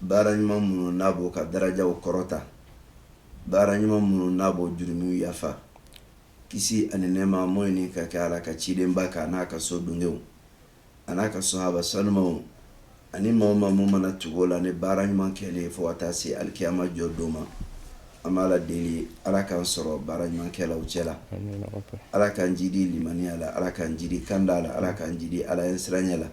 baara ɲuman minnu n'a b'o ka darajaw kɔrɔta baara ɲuman minnu n'a b'o jurumiw yafa kisi ani nɛɛma m'o ɲini ka kɛ Ala ka cidenba kan a n'a ka so dunkew a n'a ka sahaba sanumaw ani maa o maa mun mana tugu o la ni baara ɲuman kɛli ye fo ka taa se alikiyama jɔ don ma an b'Ala deli Ala k'an sɔrɔ baara ɲuman kɛlaw cɛla Ala k'an jidi limaniya la Ala k'an jidi kanda la Ala k'an jidi Ala ɲɛ siranya la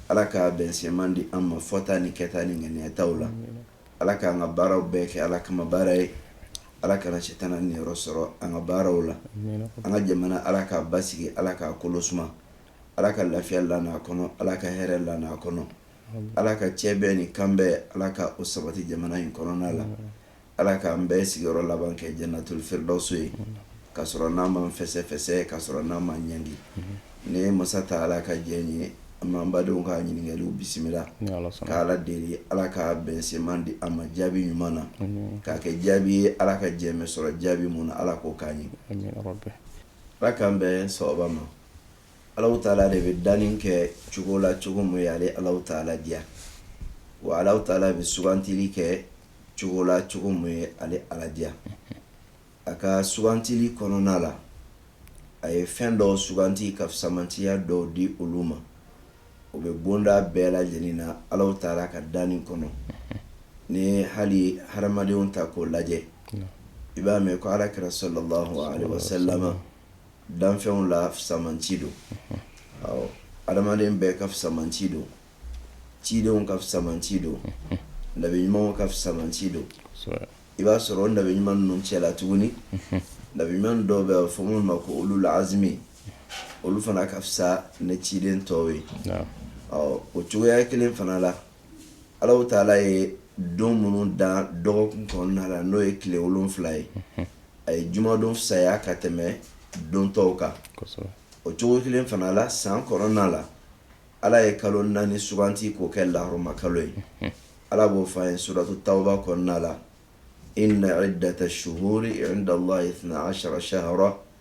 Ala ka bɛnsenma di an ma fɔta ni kɛta ni ŋaniyataw la ala k'an ka baaraw bɛɛ kɛ ala kama baara ye ala kana sitanɛ niyɔrɔ sɔrɔ an ka baaraw la an ka jamana ala k'a basigi ala k'a kolo suma ala ka lafiya la a kɔnɔ ala ka hɛrɛ la a kɔnɔ ala ka cɛbɛn ni kanbɛn ala ka o sabati jamana in kɔnɔna la Ala k'an bɛɛ sigiyɔrɔ laban kɛ jannatul firdaws ye ka sɔrɔ n'an ma fɛsɛfɛsɛ ka sɔrɔ n'an ma ɲangi ni ye masa taala ka jɛn ye an b'an badenw ka ɲininkaliw bisimila ka Ala deli Ala ka bɛnsenma di an ma jaabi ɲuman na k'a kɛ jaabi ye Ala ka jɛn bɛ sɔrɔ jaabi mun na Ala k'o k'an ye Ala k'an bɛn sawaba ma. Alahu taala de bɛ danni kɛ cogo la cogo min ye ale ala taala diya wa ala taala bɛ sugantili kɛ cogo la cogo min ye ale ala diya a ka sugantili kɔnɔna la a ye fɛn dɔw suganti ka fisamantiya dɔw di olu ma o bɛ bonda bɛɛ lajɛlen na ala taala ka danni kɔnɔ ni hali hadamadenw ta k'o lajɛ i b'a mɛn ko ala kira sala danfɛnw la fisamanci don awɔ adamaden bɛɛ ka fisamanci don cidenw ka fisamanci don nabi ɲumanw ka fisamanci don i b'a sɔrɔ o nabi ɲuman ninnu cɛla tuguni nabi ɲuman dɔw bɛ fɔ minnu ma ko ulul azmi olu fana ka fisa ni ciden tɔw ye awɔ o cogoya kelen fana la Alahu taala ye don minnu dan dɔgɔkun kɔnɔna na n'o ye tile wolonwula ye a ye jumadon fisaya ka tɛmɛ don tɔw kan o cogo kelen fana la san kɔnɔna la ala ye kalo naani suganti k'o kɛ lahɔrɔma kalo ye ala b'o fɔ an ye suratu tawba kɔnɔna la inna iddata shuhuri indallahi isna ashara shahran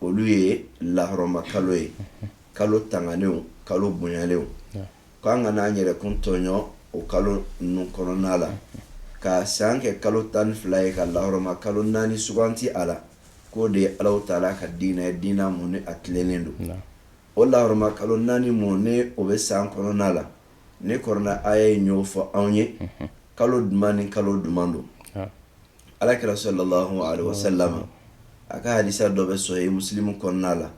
olu ye lahɔrɔma kalo ye kalo tangalenw kalo bonyalenw k'an kana an yɛrɛkun tɔɲɔ o kalo ninnu kɔnɔna la ka san kɛ kalo tan ni fila ye ka lahɔrɔma kalo naani suganti a la k'o de ye ala taala ka diinɛ ye diina mun ni a tilennen don o lahɔrɔma kalo naani mun ni o bɛ san kɔnɔna la nin kurana aya y'a ɲɛfɔ anw ye kalo jumɛn ni kalo jumɛn don alakira sallallahu alaihi wasallam a ka hadisa dɔ bɛ sahihi musilimu kɔnɔna la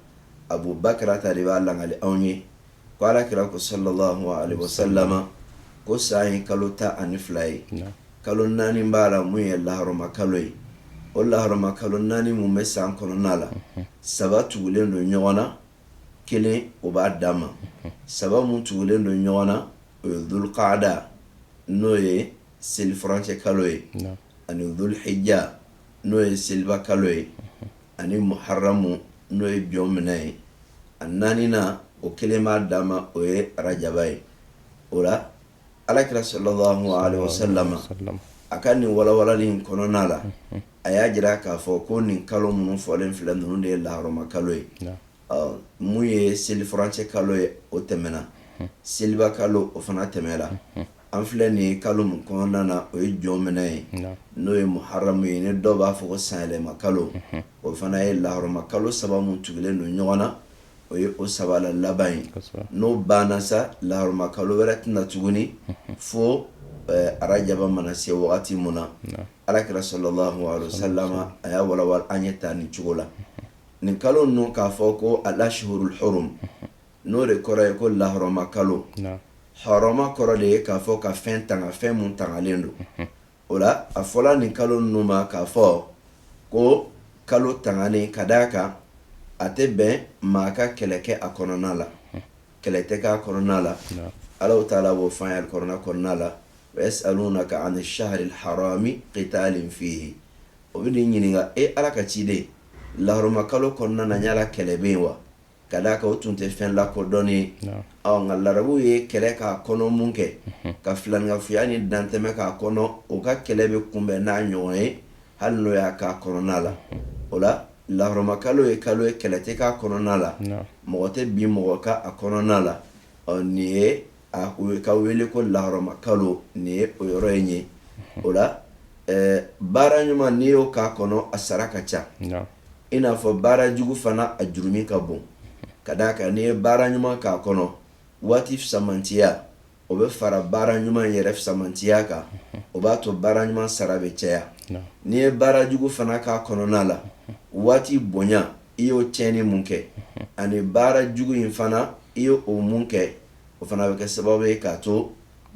abu bakarata de b'a lakali anw ye ko alakira ko sallallahu alaihi wasallam ko san ye kalo tan ani fila ye kalo naani b'a la mun ye laharama kalo ye o laharama kalo naani mun bɛ san kɔnɔna la saba tugulen don ɲɔgɔn na kelen o b'a dan ma saba mun tugulen don ɲɔgɔn na o ye dulukada n'o ye selifurancɛ kalo ye ani dulhijja n'o ye seliba kalo ye ani muharamu n'o ye jɔnminɛ ye a naaninan o kelen b'a dan ma o ye arajaba ye o la alakira sallallahu alaihi wasallam a ka nin walawalani kɔnɔna la a y'a jira k'a fɔ ko nin kalo minnu fɔlen filɛ ninnu de ye lahɔrɔma kalo ye mun ye selifurancɛ kalo ye o tɛmɛna seliba kalo o fana tɛmɛla an filɛ nin ye kalo min kɔnɔna na o ye jɔnminɛ ye n'o ye muharamu ye ni dɔw b'a fɔ ko sanyɛlɛma kalo o fana ye laharama kalo saba min tugulen don ɲɔgɔn na o ye o saba laban ye n'o banna sa laharama kalo wɛrɛ tɛna na tuguni fo arajaba mana se wagati min na alakira sallallahu alaihi wasallam a y'a walawala an ye taa nin cogo la nin kalo ninnu k'a fɔ ko al-ashhurul hurum n'o de kɔrɔ ye ko lahɔrɔma kalo hɔrɔma kɔrɔ de ye k'a fɔ ka fɛn tanga fɛn minnu tangalen don o la a fɔra nin kalo ninnu ma k'a fɔ ko kalo tanganen ka d'a kan a tɛ bɛn maa ka kɛlɛ kɛ a kɔnɔna la kɛlɛ tɛ kɛ a kɔnɔna la ala taala b'o f'an ye kuranɛ kɔnɔna la wa yas'alunaka ani shahril harami kitalin fihi O bɛn'i ɲininka e ala ka ciden lahɔrɔma kalo kɔnɔna na yala kɛlɛ bɛ yen wa ka d'a kan o tun tɛ fɛn lakodɔnnen ye nka larabuw ye kɛlɛ k'a kɔnɔ minnu kɛ ka filankafoya ni dantɛmɛ k'a kɔnɔ o ka kɛlɛ bɛ kunbɛn n'a ɲɔgɔn ye hali n'o y'a k'a kɔnɔna la o la lahɔrɔma kalo ye kalo ye kɛlɛ tɛ k'a kɔnɔna la mɔgɔ tɛ bin mɔgɔ kan a kɔnɔna la ɔ nin ye a ko ka wele ko laharama kalo nin ye o yɔrɔ in ye o la baara ɲuman n'i y'o k'a kɔnɔ a sara ka ca i n'a fɔ baara jugu fana a jurumu ka bon ka d'a kan n'i ye baara ɲuman k'a kɔnɔ waati fisamantiya o bɛ fara baara ɲuman yɛrɛ fisamantiya kan o b'a to baara ɲuman sara bɛ caya n'i ye baara jugu fana k'a kɔnɔna la waati bonya i y'o cɛnni mun kɛ ani baara jugu in fana i y'o mun kɛ o fana bɛ kɛ sababu ye k'a to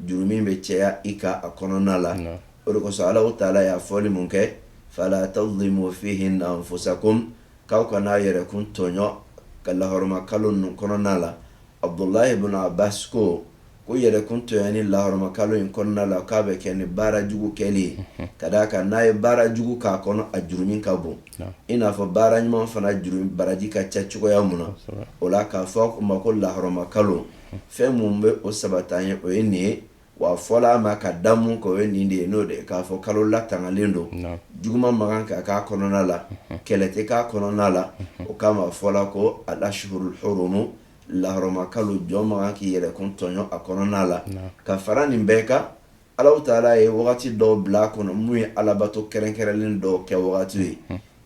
jurumu bɛ caya i ka a kɔnɔna la o de kosɔn ala taala y'a fɔli min kɛ fala tazlimu fihinna anfusakum k'aw kan'a yɛrɛkun tɔɲɔ ka lahɔrɔma kalo ninnu kɔnɔna la abudulahi bunu abasi ko ko yɛrɛkun tɔɲɔni lahɔrɔma kalo in kɔnɔna la k'a bɛ kɛ ni baara jugu kɛ ye ka d'a kan n'a ye baara jugu k'a kɔnɔ a jurumu ka bon i n'a fɔ baara ɲuman fana baraji ka ca cogoya min na o la k'a fɔ a ma ko lahɔrɔma kalo fɛn mun bɛ o sabat'an ye o ye nin ye w'a fɔla a ma ka da mun kan o ye nin de ye n'o de k'a fɔ kalo latangalen don juguman man kan ka k'a kɔnɔna la kɛlɛ tɛ k'a kɔnɔna la o kama a fɔla ko alashuhuru hurumu lahɔrɔma kalo jɔn man kan k'i yɛrɛkun tɔɲɔ a kɔnɔna la ka fara nin bɛɛ kan Ala taala ye wagati dɔw bila a kɔnɔ mun ye alabato kɛrɛnkɛrɛnlen dɔw kɛ wagati ye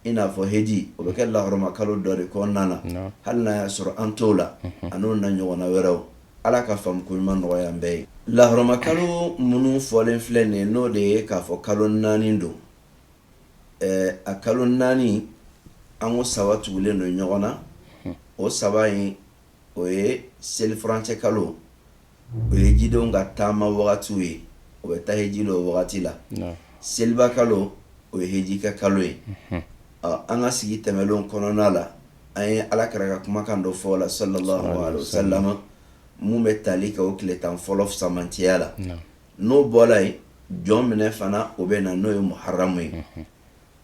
i n'a fɔ heji o bɛ kɛ lahɔrɔma kalo dɔ de kɔnɔna na hali n'a y'a sɔrɔ an t'o la an'o na ɲɔgɔnna wɛrɛw ala ka faamuko ɲuman nɔgɔya an bɛɛ ye lahɔrɔma kalo minnu fɔlen filɛ nin n'o de ye k'a fɔ kalo naani don a kalo naani an ko saba tugulen don ɲɔgɔn na o saba in o ye selifurancɛ kalo o ye hejidenw ka taama wagatiw ye o bɛ taa heji la o wagati la seliba kalo o ye heji kɛ kalo ye an ka sigi tɛmɛlen kɔnɔna la an ye alakira ka kumakan dɔ fɔ o la sallallahu alaihi wasallam mun bɛ tali kɛ o tile tan fɔlɔ fisamantiya la n'o bɔra yen jɔnminɛ fana o bɛ na n'o ye muharamu ye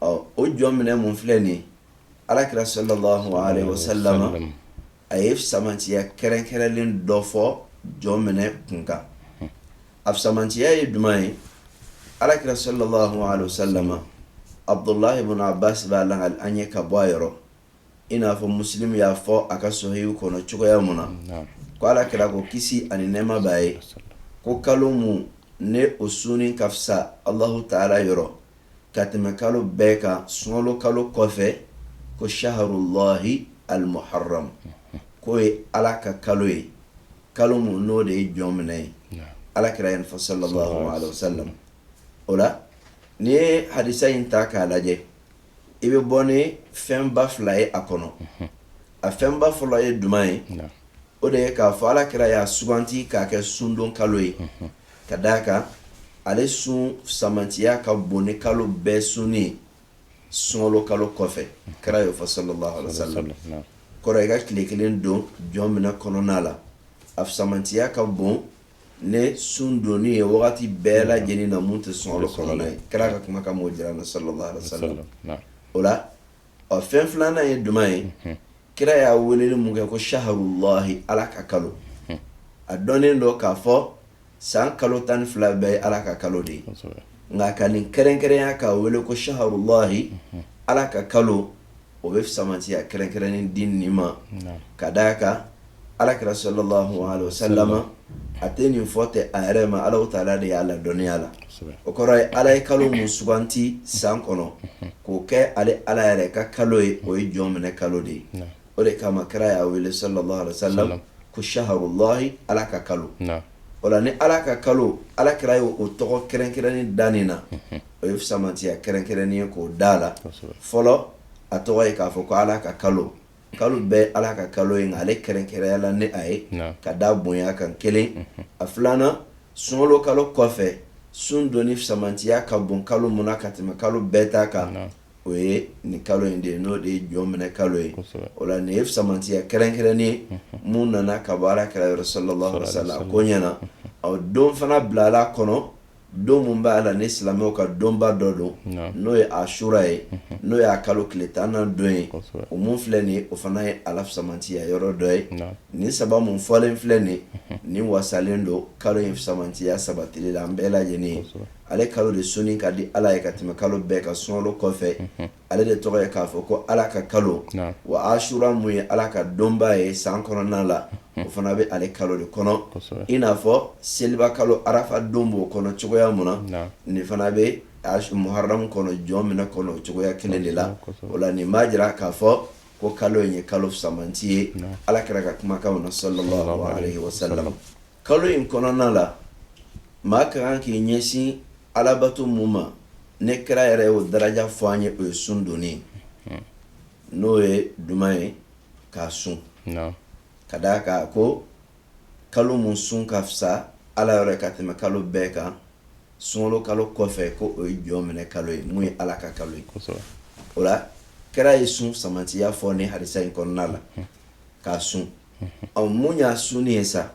ɔ o jɔnminɛ mun filɛ nin alakira sallallahu alaihi wasallam a ye fisamantiya kɛrɛnkɛrɛnlen dɔ fɔ jɔnminɛ kun kan a fisamantiya ye jumɛn ye alakira sallallahu alaihi wasallam abudulahi bunu abasi b'a lakali an ye ka bɔ a yɔrɔ i n'a fɔ musilimu y'a fɔ a ka sɔhihu kɔnɔ cogoya min na ko alakira ko kisi ani nɛɛma b'a ye ko kalo mun ne o sunni ka fisa alahu taala yɔrɔ ka tɛmɛ kalo bɛɛ kan sunkalo kalo kɔfɛ ko saharulahi alimuharamu k'o ye ala ka kalo ye kalo mun n'o de ye jɔnminɛ ye alakira y'o fɔ sallallahu alaihi wasallam o la n'i ye hadisa in ta k'a lajɛ i bɛ bɔ ni fɛnba fila ye a kɔnɔ a fɛnba fɔlɔ ye jumɛn ye o de ye k'a fɔ alakira y'a suganti k'a kɛ sundon kalo ye ka d'a kan ale sun fisamantiya ka bon ni kalo bɛɛ sunni ye sunkalo kalo kɔfɛ kira y'o fɔ sallallahu alaihi wasallam kɔrɔ i ka tile kelen don jɔnminɛ kɔnɔna la a fisamantiya ka bon ni sun donni ye wagati bɛɛ lajɛlen na mun tɛ sunkalo kɔnɔna ye kira ka kumakan b'o jira an na sallallahu alaihi wasallam o la ɔ fɛn filanan ye juman ye mhm. kira y'a weleli mun kɛ ko saharulahi ala ka kalo mhm. a dɔnnen don k'a fɔ san kalo tan ni fila bɛɛ ye ala ka kalo de ye nka ka nin kɛrɛnkɛrɛnya k'a wele ko saharulahi mhm. ala ka kalo o bɛ fisamantiya kɛrɛnkɛrɛnnen di nin ma ka d'a kan alakira sallallahu alaihi wasallam a tɛ nin fɔ ten a yɛrɛ ma ala ta'ala de y'a ladɔnniya la o kɔrɔ ye ala ye kalo min suganti san kɔnɔ k'o kɛ ale ala yɛrɛ ka kalo ye o ye jɔnminɛ kalo de ye o de kama kira y'a wele sallallahu alaihi wasallam ko saharulahi ala ka kalo o la ni ala ka kalo alakira ye o tɔgɔ kɛrɛnkɛrɛnnen da nin na o ye fisamantiya kɛrɛnkɛrɛnnen ye k'o da la fɔlɔ a tɔgɔ ye k'a fɔ ko ala ka kalo kalo bɛɛ ala ka kalo ye ale kɛrɛnkɛrɛnya la ni a ye ka da bonya kan kelen a filanan sunkalo kalo kɔfɛ sun donni fisamantiya ka bon kalo min na ka tɛmɛ kalo bɛɛ ta kan o ye nin kalo in de ye n'o de ye jɔnminɛ kalo ye o la nin ye fisamantiya kɛrɛnkɛrɛnnen ye min nana ka bɔ alakira yɔrɔ sallallahu alaihi wasallam koɲɛ na ani o don fana bilala kɔnɔ don min b'a la ni silamɛw ka donba dɔ don n'o ye ashura ye n'o y'a kalo tile tannan don ye o min filɛ nin o fana ye a la fisamantiya yɔrɔ dɔ ye nin saba min fɔlen filɛ nin nin wasalen don kalo in fisamantiya sabatili la an bɛɛ lajɛlen ye ale kalo de sunni ka di ala ye ka tɛmɛ kalo bɛɛ kan sunkalo kɔfɛ ale de tɔgɔ ye k'a fɔ ko ala ka kalo wa ashura min ye ala ka donba ye san kɔnɔna la o fana bɛ ale kalo de kɔnɔ i n'a fɔ seliba kalo arafa don b'o kɔnɔ cogoya min na nin fana bɛ muharamu kɔnɔ jɔnminɛ kɔnɔ cogoya kelen de la o la nin b'a jira k'a fɔ ko kalo in ye kalo fisamanti ye alakira ka kumakan na sallallahu alaihi wasallam Kalo in kɔnɔna la maa ka kan k'i ɲɛsin alabato min ma ni kira yɛrɛ ye o daraja fɔ an ye o ye sun donni n'o ye juman ye k'a sun ka d'a kan ko kalo min sun ka fisa ala yɔrɔ ka tɛmɛ kalo bɛɛ kan sunkalo kalo kɔfɛ ko o ye jɔnminɛ kalo ye min ye ala ka kalo ye o la kira ye sun fisamantiya fɔ nin hadisa in kɔnɔna la k'a sun ɔ mun y'a sunni ye sa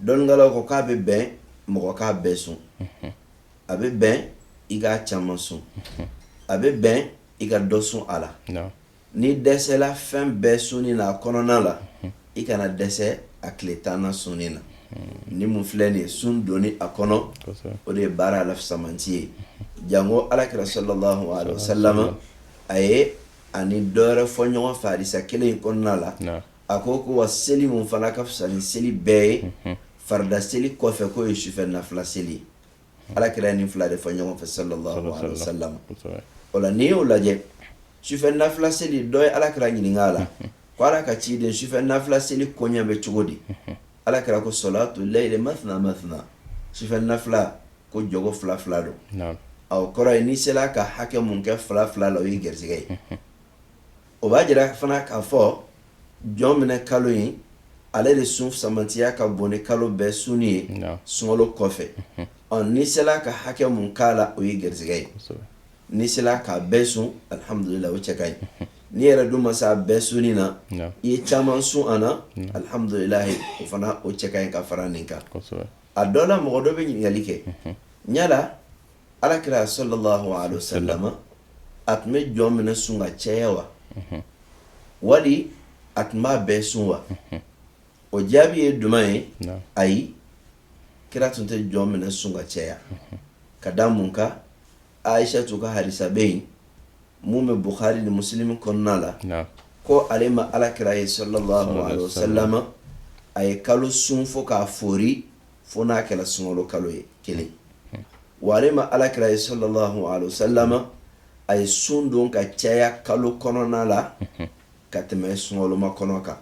dɔnnikɛlaw ko k'a bɛ bɛn mɔgɔ k'a bɛɛ sun a bɛ bɛn i k'a caman sun a bɛ bɛn i ka dɔ sun a la n'i dɛsɛla fɛn bɛɛ sunni na a kɔnɔna la i kana dɛsɛ a tile tannan sunni na ni min filɛ nin ye sun donni a kɔnɔ o de ye baara la fisamanti ye jango alakira sallallahu alaihi wasallam a ye a ni dɔ wɛrɛ fɔ ɲɔgɔn fɛ hadisa kelen in kɔnɔna la A ko ko wa seli min fana ka fisa ni seli bɛɛ ye farida seli kɔfɛ k'o ye sufɛ nafila seli ye alakira ye nin fila de fɔ ɲɔgɔn fɛ sallallahu alaihi wasallam o la n'i y'o lajɛ sufɛ nafila seli dɔ ye alakira ɲininka a la ko ala ka ciden sufɛ nafila seli koɲɛ bɛ cogo di alakira ko salatu layli mathna mathna sufɛ nafila ko jɔko fila fila don o kɔrɔ ye n'i sera ka hakɛ mun kɛ fila fila la o ye garisɛgɛ ye o b'a jira fana k'a fɔ jɔn minɛ kalo in ale de sun fisamantiya ka bon ni kalo bɛɛ sunni ye sunkalo kɔfɛ ɔ n'i sera ka hakɛ mun k'a la o ye garisɛgɛ ye n'i sera k'a bɛɛ sun alihamdulila o cɛ ka ɲi n'i yɛrɛ dun ma se a bɛɛ sunni na i ye caman sun a na alihamdulila o fana o cɛ ka ɲi ka fara nin kan a dɔ la mɔgɔ dɔ bɛ ɲininkali kɛ ɲala alakira sallallahu alaihi wasallam a tun bɛ jɔn minɛ sun ka caya wa wali a tun b'a bɛɛ sun wa o jaabi ye duman ye ayi kira tun tɛ jɔn minɛ sun ka caya ka da mun kan ayisatu ka hadisa bɛ yen min bɛ buhari ni musilimu kɔnɔna la ko ale ma alakira ye sallallahu alaihi wasallam a ye kalo sun fo k'a foori fo n'a kɛra sunkalo kalo ye kelen wa ale ma alakira ye sallallahu alaihi wasallam a ye sun don ka caya kalo kɔnɔna la ka tɛmɛ sunkalomakɔnɔ kan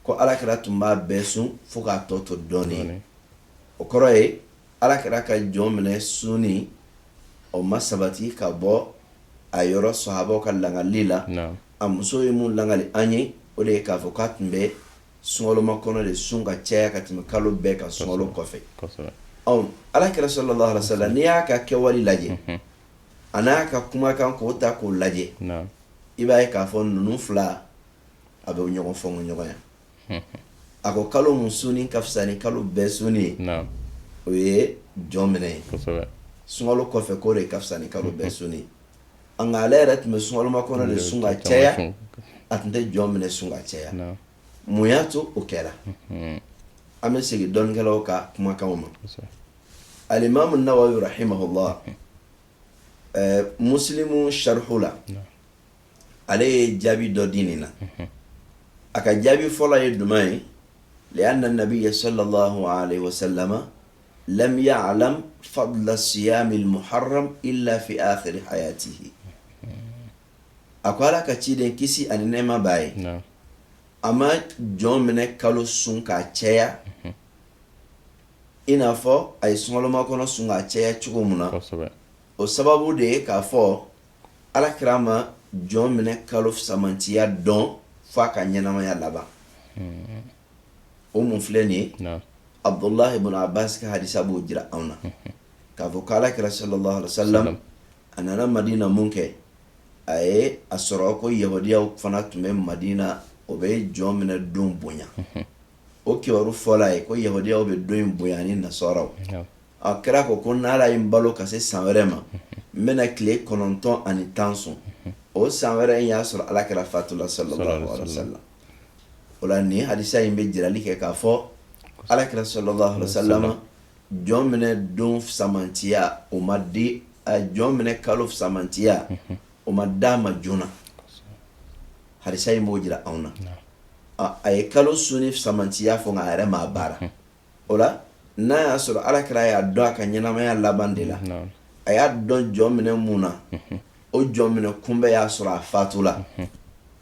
ko alakira tun b'a bɛɛ sun fo k'a tɔ to dɔɔnin o kɔrɔ ye alakira ka jɔn minɛ sunni o ma sabati ka bɔ a yɔrɔ sahabaw ka lakali la a muso ye mun lakali an ye o de ye k'a fɔ k'a tun bɛ sunkalomakɔnɔ de sun ka caya ka tɛmɛ kalo bɛɛ kan sunkalo kɔfɛ alakira sallallahu alaihi wasallam n'i y'a ka kɛwale lajɛ an'a ka kumakan k'o ta k'o lajɛ i b'a ye k'a fɔ ninnu fila a bɛ ɲɔgɔn fɔ ma ɲɔgɔn yan a ko kalo mun sunni ka fisa ni kalo bɛɛ sunni ye o ye jɔn minɛ ye sunkalo kɔfɛ k'o de ka fisa ni kalo bɛɛ sunni Nka ale yɛrɛ tun bɛ sunkalomakɔnɔ de sun ka caya a tun tɛ jɔn minɛ sun ka caya mun y'a to o kɛra an bɛ segin dɔnnikɛlaw ka kumakan ma alimamu nawawi rahimahullah musilimu sarihu la ale ye jaabi dɔ di nin na a ka jaabi fɔlɔ ye duman ye lianna nabiyya sallallahu alaihi lam yaalam fadula siyamil muharram ila fi akhiri hayatihi a ko ala ka ciden kisi ani nɛɛma b'a ye a ma jɔn minɛ kalo sun k'a cɛya i n'a fɔ a ye sunkalo makɔnɔ sun k'a cɛya cogo min na o sababu de ye k'a fɔ alakira ma jɔn minɛ kalo fisamantiya dɔn fo a ka ɲɛnamaya laban o mun filɛ nin ye abudulayi bun abasi ka hadisa b'o jira anw na k'a fɔ k' alakira salalahu alayhi wa salama a nana madina min kɛ a ye a sɔrɔ ko yahudiyaw fana tun bɛ madina o bɛ jɔn minɛ don bonya o kibaru fɔl'a ye ko yahudiyaw bɛ don in bonya ni nasaraw alakira ko ko n' ala ye n balo ka se san wɛrɛ ma n bɛna tile kɔnɔntɔn ani tan sun o san wɛrɛ in y'a sɔrɔ alakira fatula salalahu alayhi wa salama o la nin hadisa in bɛ jirali kɛ k'a fɔ alakira salalahu alayhi wa salama jɔn minɛ don fisamantiya o ma di jɔn minɛ kalo fisamantiya o ma d'a ma joona hadisa in b'o jira anw na a ye kalo sunni fisamantiya fɔ nka a yɛrɛ m'a baara o la n'a y'a sɔrɔ alakira y'a dɔn a ka ɲɛnamaya laban de la a y'a dɔn jɔn minɛ min na o jɔn minɛ kunbɛ y'a sɔrɔ a fatula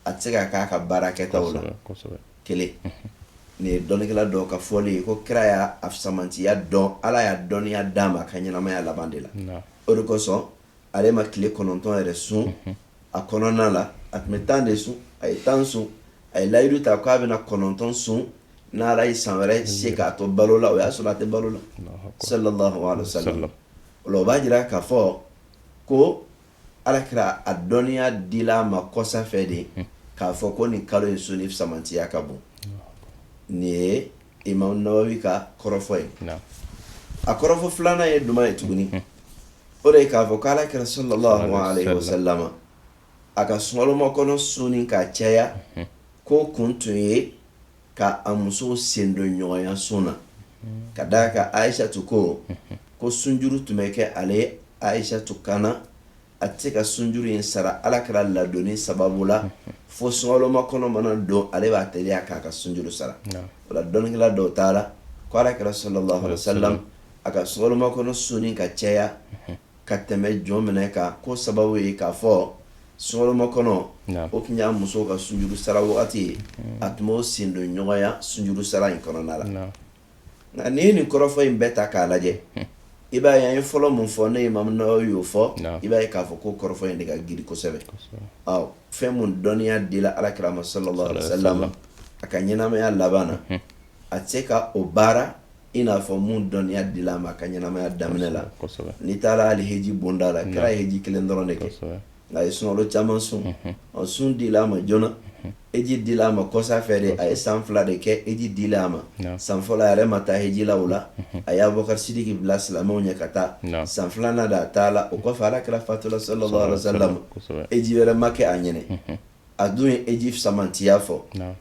a tɛ se ka k'a ka baara kɛta la kelen nin ye dɔnnikɛla dɔw ka fɔlen ye ko kira y'a fisamantiya dɔn ala y'a dɔnniya d'a ma a ka ɲɛnamaya laban de la o de kosɔn ale ma tile kɔnɔntɔn yɛrɛ sun a kɔnɔna la a tun bɛ tan de sun a ye tan sun a ye layidu ta k'a bɛna kɔnɔntɔn sun n' ala ye san wɛrɛ se k'a to balo la o y'a sɔrɔ a tɛ balo la salalahu alayhi wa salama o la o b'a jira k'a fɔ ko alakira a dɔnniya dil'a ma kɔsa fɛ de k'a fɔ ko nin kalo in sunni fisamantiya ka bon nin ye Imamu Nawawi ka kɔrɔfɔ ye a kɔrɔfɔ filanan ye duman ye tuguni o de ye k'a fɔ k' alakira salalahu alayhi wa salama a ka sunkalo makɔnɔ sunni ka caya ko kun tun ye ka a musow sen don ɲɔgɔnya sun na ka da a kan ayisatu ko ko sunjuru tun bɛ kɛ ale ayisatu kan na a tɛ se ka sunjuru in sara alakira ladonni sababu la fo sunkalo makɔnɔ mana don ale b'a teliya k'a ka sunjuru sara o la dɔnnikɛla dɔw taar'a la ko alakira salalahu alayhi wa salama a ka sunkalo makɔnɔ sunni ka cɛya ka tɛmɛ jɔn minɛ kan ko sababu ye k'a fɔ sunkalo makɔnɔ o tun y'a musow ka sunjuru sara wagati ye a tun b'o sen don ɲɔgɔnya sunjuru sara in kɔnɔna la Nka n'i ye nin kɔrɔfɔ in bɛɛ ta k'a lajɛ i b'a ye an ye fɔlɔ min fɔ ne Imam Nawawi y'o fɔ i b'a ye k'a fɔ ko kɔrɔfɔ in de ka giri kosɛbɛ fɛn min dɔnniya dila Alakira ma sallallahu alaihi wasallam a ka ɲɛnamaya laban na a tɛ se ka o baara i n'a fɔ min dɔnniya dila a ma a ka ɲɛnamaya daminɛ la n'i taara hali heji bonda la kira ye heji kelen dɔrɔn de kɛ nka a ye sunkalo caman sun ɔ sun dila a ma joona heji dila a ma kɔsa fɛ de a ye san fila de kɛ heji dila a ma san fɔlɔ a yɛrɛ ma taa heji la o la a ye Abubakari Siriki bila silamɛw ɲɛ ka taa san filanan de a taala o kɔfɛ Alakira fatula sallallahu alaihi wasallam heji wɛrɛ ma kɛ a ɲɛna a dun ye heji samatiya fɔ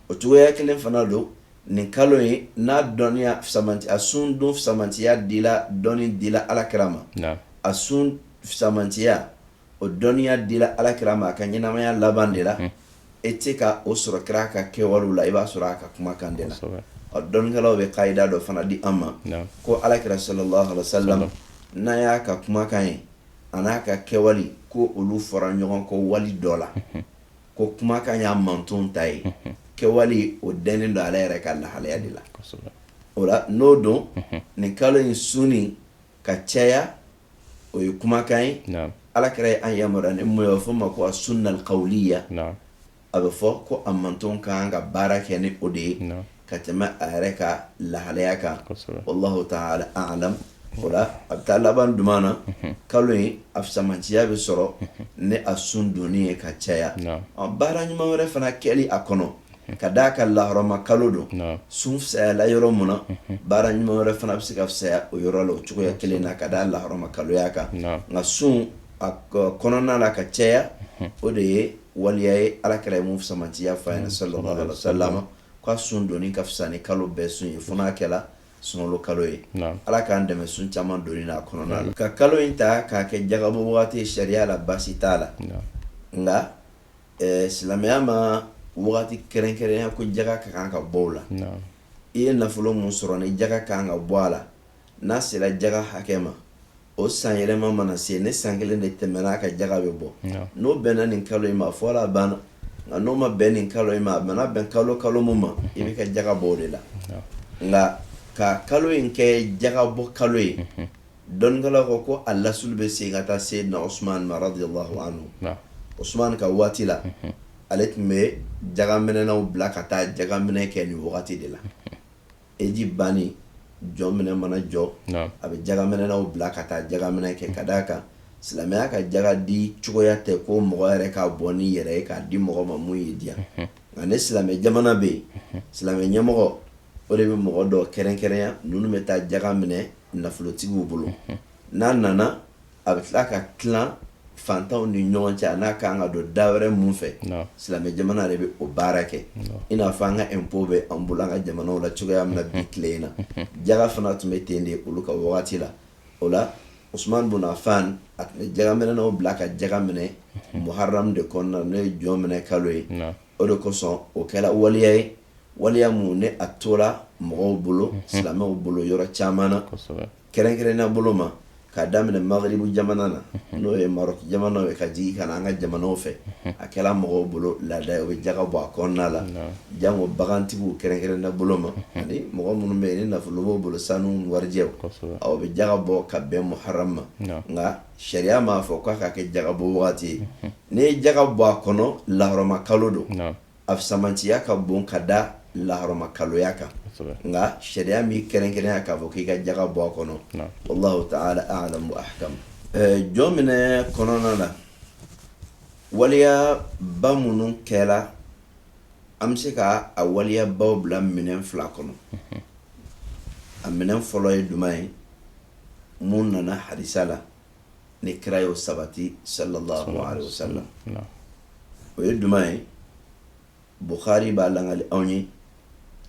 o cogoya kelen fana don nin kalo in n'a dɔnniya a sun don samatiya dila dɔnni dila Alakira ma a sun samatiya o dɔnniya dila Alakira ma a ka ɲɛnamaya laban de la e tɛ ka o sɔrɔ kira ka kɛwale la i b'a sɔrɔ a ka kumakan de la ɔ dɔnnikɛlaw bɛ kaida dɔ fana di an ma ko Alakira sallallahu alaihi wasallam n'an y'a ka kumakan ye an'a ka kɛwale ko olu fɔra ɲɔgɔn kɔ wali dɔ la ko kumakan y'a manton ta ye kɛwale o dennen don ale yɛrɛ ka lahalaya de la o la n'o don nin kalo in sun ka caya o ye kumakan ye Alakira ye an yamari ni min ye fɔ ma ko as-sunna al-qawliya a bɛ fɔ ko a manton ka kan ka baara kɛ ni o de ye ka tɛmɛ a yɛrɛ ka lahalaya kan wallahu ta'ala a'lam o la a bɛ taa laban duman na kalo in a samatiya bɛ sɔrɔ ni a sun donni ye ka caya baara ɲuman wɛrɛ fana kɛli a kɔnɔ ka d'a kan lahɔrɔma kalo don sun fisayala yɔrɔ min na baara ɲuman wɛrɛ fana bɛ se ka fisaya o yɔrɔ la o cogoya kelen na ka d'a lahɔrɔma kaloya kan nka sun a kɔnɔna la ka caya o de ye waliya ye Alakira ye min samatiya fɔ an ye sallallahu alaihi wasallam ko a sun donni ka fisa ni kalo bɛɛ sun ye fo n'a kɛla sunkalo kalo ye ala k'an dɛmɛ sun caman donni na a kɔnɔna la ka kalo in ta k'a kɛ jaga bɔ waati ye sariya la baasi t'a la nka Ɛɛ silamɛya ma wagati kɛrɛnkɛrɛnya ko jaga ka kan ka bɔ o la i ye nafolo min sɔrɔ ni jaga ka kan ka bɔ a la n'a sera jaga hakɛ ma o san yɛlɛma mana se ni san kelen de tɛmɛna a kan jaga bɛ bɔ n'o bɛnna nin kalo in ma fɔ la banna nka n'o ma bɛn nin kalo in ma a bɛna bɛn kalo kalo min ma i bɛ ka jaga bɔ o de la nka ka kalo in kɛ jaga bɔ kalo ye dɔnnikɛlaw ko ko a lasulu bɛ segin ka taa seyidina Usumani ma radiyallahu anhu, naamu, Usumani ka waati la, unhun, ale tun bɛ jagaminɛnaw bila ka taa jagaminɛ kɛ nin wagati de la, unhun, heji banni jɔminɛ mana jɔ, naamu, a bɛ jagaminɛnaw bila ka taa jagaminɛ kɛ ka d'a kan silamɛya ka jaga di cogoya tɛ ko mɔgɔ yɛrɛ k'a bɔ n'i yɛrɛ ye k'a di mɔgɔ ma mun y'i diya, unhun, nka ni silamɛ jamana bɛ yen, unhun, silamɛ ɲɛmɔgɔ o de bɛ mɔgɔ dɔ kɛrɛnkɛrɛnya ninnu bɛ taa jaga minɛ nafolotigiw bolo n'a nana a bɛ tila ka tila fantanw ni ɲɔgɔn cɛ a n'a ka kan ka don da wɛrɛ minnu fɛ silamɛ jamana de bɛ o baara kɛ i n'a fɔ an ka impôt bɛ an bolo an ka jamana la cogoya min na bi tile in na jaga fana tun bɛ ten de olu ka wagati la o la Usumani bun Afan a tun bɛ jagaminɛnaw bila ka jaga minɛ muharamu de kɔnɔna n'o ye jɔnminɛ kalo ye o de kosɔn o kɛra waleya ye waleya min n'a tora mɔgɔw bolo silamɛw bolo yɔrɔ caman na kɛrɛnkɛrɛnnenya bolo ma k'a daminɛ Magiribu jamana na n'o ye Marɔku jamana ye ka jigin ka na an ka jamanaw fɛ a kɛra mɔgɔw bolo laada ye o bɛ jaga bɔ a kɔnɔna la jango bagantigiw kɛrɛnkɛrɛnnenya bolo ma ani mɔgɔ minnu bɛ yen ni nafolo b'u bolo sanu warijɛ u bɛ jaga bɔ ka bɛn muharamu ma nka sariya m'a fɔ k'a ka kɛ jagabɔ waati ye n'i ye jaga bɔ a kɔnɔ lahɔrɔma kalo don a fisamantiya ka bon ka da lahɔrɔma kaloya kan nka sariya m'a kɛrɛnkɛrɛnya k'a fɔ k'i ka jaga bɔ a kɔnɔ wallahu ta'ala a'lam jɔnminɛ kɔnɔna na waleyaba minnu kɛra an bɛ se ka a waleyabaw bila minɛn fila kɔnɔ a minɛn fɔlɔ ye jumɛn ye minnu nana hadisa la ni kira ye o sabati sallallahu alayhi wasallam o ye jumɛn ye Bukhari b'a lagali anw ye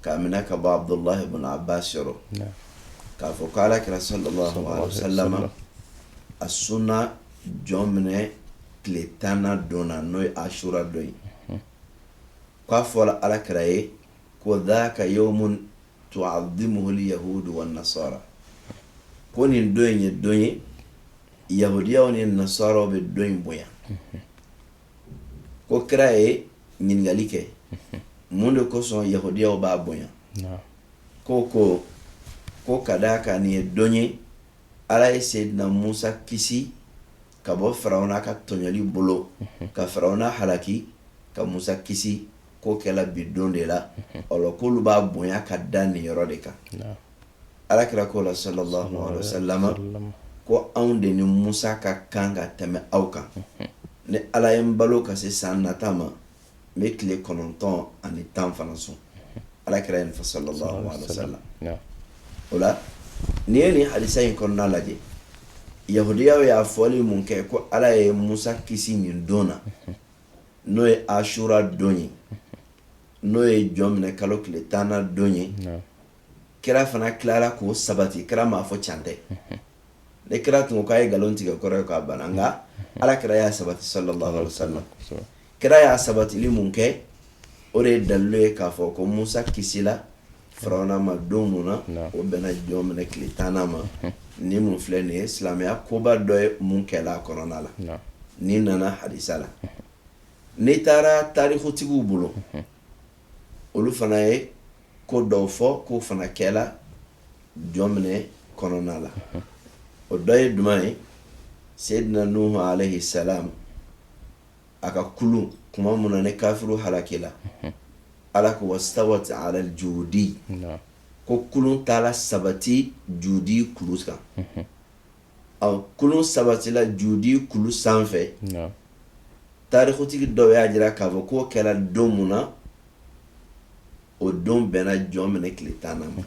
k'a minɛ ka bɔ Abudulayi ibn Abbas yɔrɔ k'a fɔ ko ala kira sallallahu alayhi wasallam a sunna jɔnminɛ tile tannan don na n'o ye asura don ye k'a fɔra ala kira ye ko dhaka yawmun tu'azzimuhu al-yahud wan-nasara ko nin don in ye don ye yahudiyaw ni nasaraw bɛ don in bonya ko kira ye ɲininkali kɛ mun de kosɔn yahudiyaw b'a bonya ko ko ko ka d'a kan nin ye don ye ala ye seyidina musa kisi ka bɔ farawuna ka tɔɲɔli bolo ka farawuna halaki ka musa kisi k'o kɛla bi don de la k'olu b'a bonya ka da nin yɔrɔ de kan ala kira k'o la sallallahu alaihi wasallam ko anw de ni musa ka kan ka tɛmɛ aw kan ni ala ye n balo ka se san nata ma n bɛ tile kɔnɔntɔn ani tan fana sun ala kira ye nin fɔ sallallahu alaihi wasallam o la n'i ye nin hadisa in kɔnɔna lajɛ yahudiyaw y'a fɔli mun kɛ ko ala ye musa kisi nin don na n'o ye asura don ye n'o ye jɔminɛ kalo tile tannan don ye kira fana tilara k'o sabati kira m'a fɔ can tɛ ne kira tun k'a ye nkalon tigɛ kɔrɔ ye k'a banna nka ala kira y'a sabati sallallahu alaihi wasallam kira y'a sabatili mun kɛ o de ye dalilu ye k'a fɔ ko musa kisila Farauna ma don min na o bɛnna jɔminɛ tile tan ma nin mun filɛ nin ye silamɛya koba dɔ ye mun kɛla a kɔnɔna la nin nana hadisa la n'i taara tarikutigiw bolo olu fana ye ko dɔw fɔ k'o fana kɛla jɔminɛ kɔnɔna la o dɔ ye jumɛn ye seyidina nuhu alayhi salam a ka kulun tuma min na ni kafiriw halakila ala ko wastawat alal judi ko kulun taara sabati judi kulu kan ɔ kulun sabatila judi kulu sanfɛ tarikutigi dɔw y'a jira k'a fɔ k'o kɛra don min na o don bɛnna jɔminɛ tile tannan ma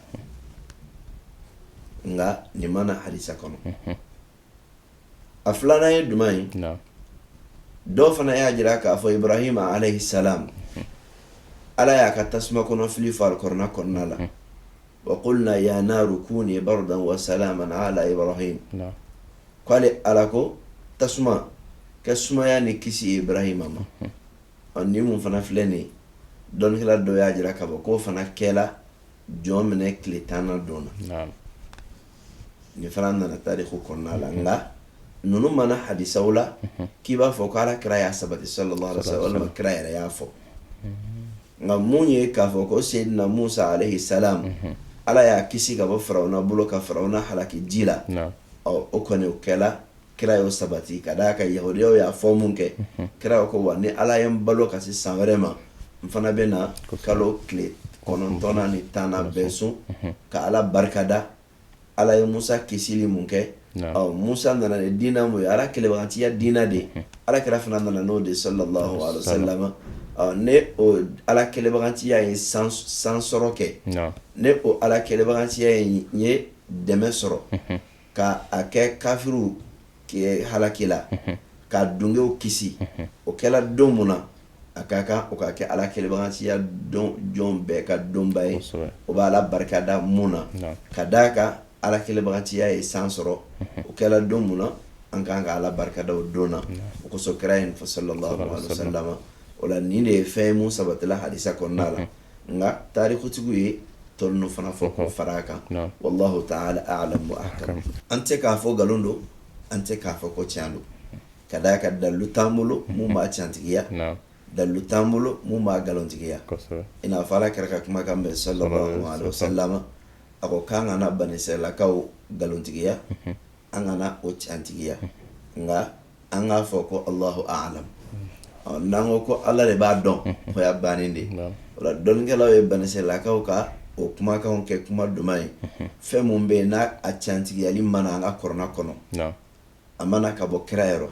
nka nin ma na hadisa kɔnɔ a filanan ye jumɛn ye dɔw fana y'a jira k'a fɔ ibarahima alayhi salam ala y'a ka tasuma kɔnɔ fili fɔ alikurana kɔnɔna la wa qulna ya naru kuni bardan wa salaman ala ibarahima k'ale ala ko tasuma kɛ sumaya ni kisi ye ibarahima ma ɔ nin mun fana filɛ nin ye dɔnnikɛla dɔw y'a jira k'a fɔ k'o fana kɛla jɔminɛ tile tan don na nin fana nana tariku kɔnɔna la nka ninnu ma na hadisaw la k'i b'a fɔ ko ala kira y'a sabati sallallahu alaihi wasallam walima kira yɛrɛ y'a fɔ nka mun ye k'a fɔ ko seyidina musa alayhi salam ala y'a kisi ka bɔ farawuna bolo ka farawuna halaki ji la ɔ o kɔni o kɛla kira y'o sabati ka d'a kan yahudiyaw y'a fɔ mun kɛ kira ko wa ni ala ye n balo ka se san wɛrɛ ma n fana bɛ na kalo tile kɔnɔntɔnnan ni tannan bɛɛ sun ka ala barikada ala ye musa kisili mun kɛ ɔ musa nana ni diina mun ye ala kɛlɛbagatiya diina de ala kira fana nana n'o de sallallahu alaihi wasallam ni o ala kɛlɛbagatiya ye san sɔrɔ kɛ ni o ala kɛlɛbagatiya ye dɛmɛ sɔrɔ ka a kɛ kafiriw halaki la ka dungew kisi o kɛla don mun na a ka kan o ka kɛ ala kɛlɛbagatiya jɔn bɛɛ ka donba ye o bɛ ala barika da mun na ka d'a kan ala kɛlɛbagatiya ye san sɔrɔ o kɛla don mun na an ka kan ka ala barikada o don na o kosɔn kira y'a fɔ sallallahu alayhi wa sallam o la nin de ye fɛn ye mun sabatila hadisa kɔnɔna la nka tarikutigiw ye tɔ ninnu fana fɔ k'o fara kan wallahu ta'ala alam an tɛ k'a fɔ nkalon don an tɛ k'a fɔ ko tiɲɛ don ka d'a kan dalilu t'an bolo mun b'a cantigiya dalilu t'an bolo mun b'a nkalontigiya i n'a fɔ ala kira ka kumakan sallallahu alayhi wa sallam a ko k'an kana banisɛlakaw nkalontigiya an kana o cantigiya nka an k'a fɔ ko alahu alam n'an ko ko ala de b'a dɔn o y'a bannen de o la dɔnnikɛlaw ye banisɛlakaw ka o kumakan kɛ kuma duman ye fɛn mun bɛ yen n'a a cantigiyali ma na an ka kɔrɔna kɔnɔ a ma na ka bɔ kira yɔrɔ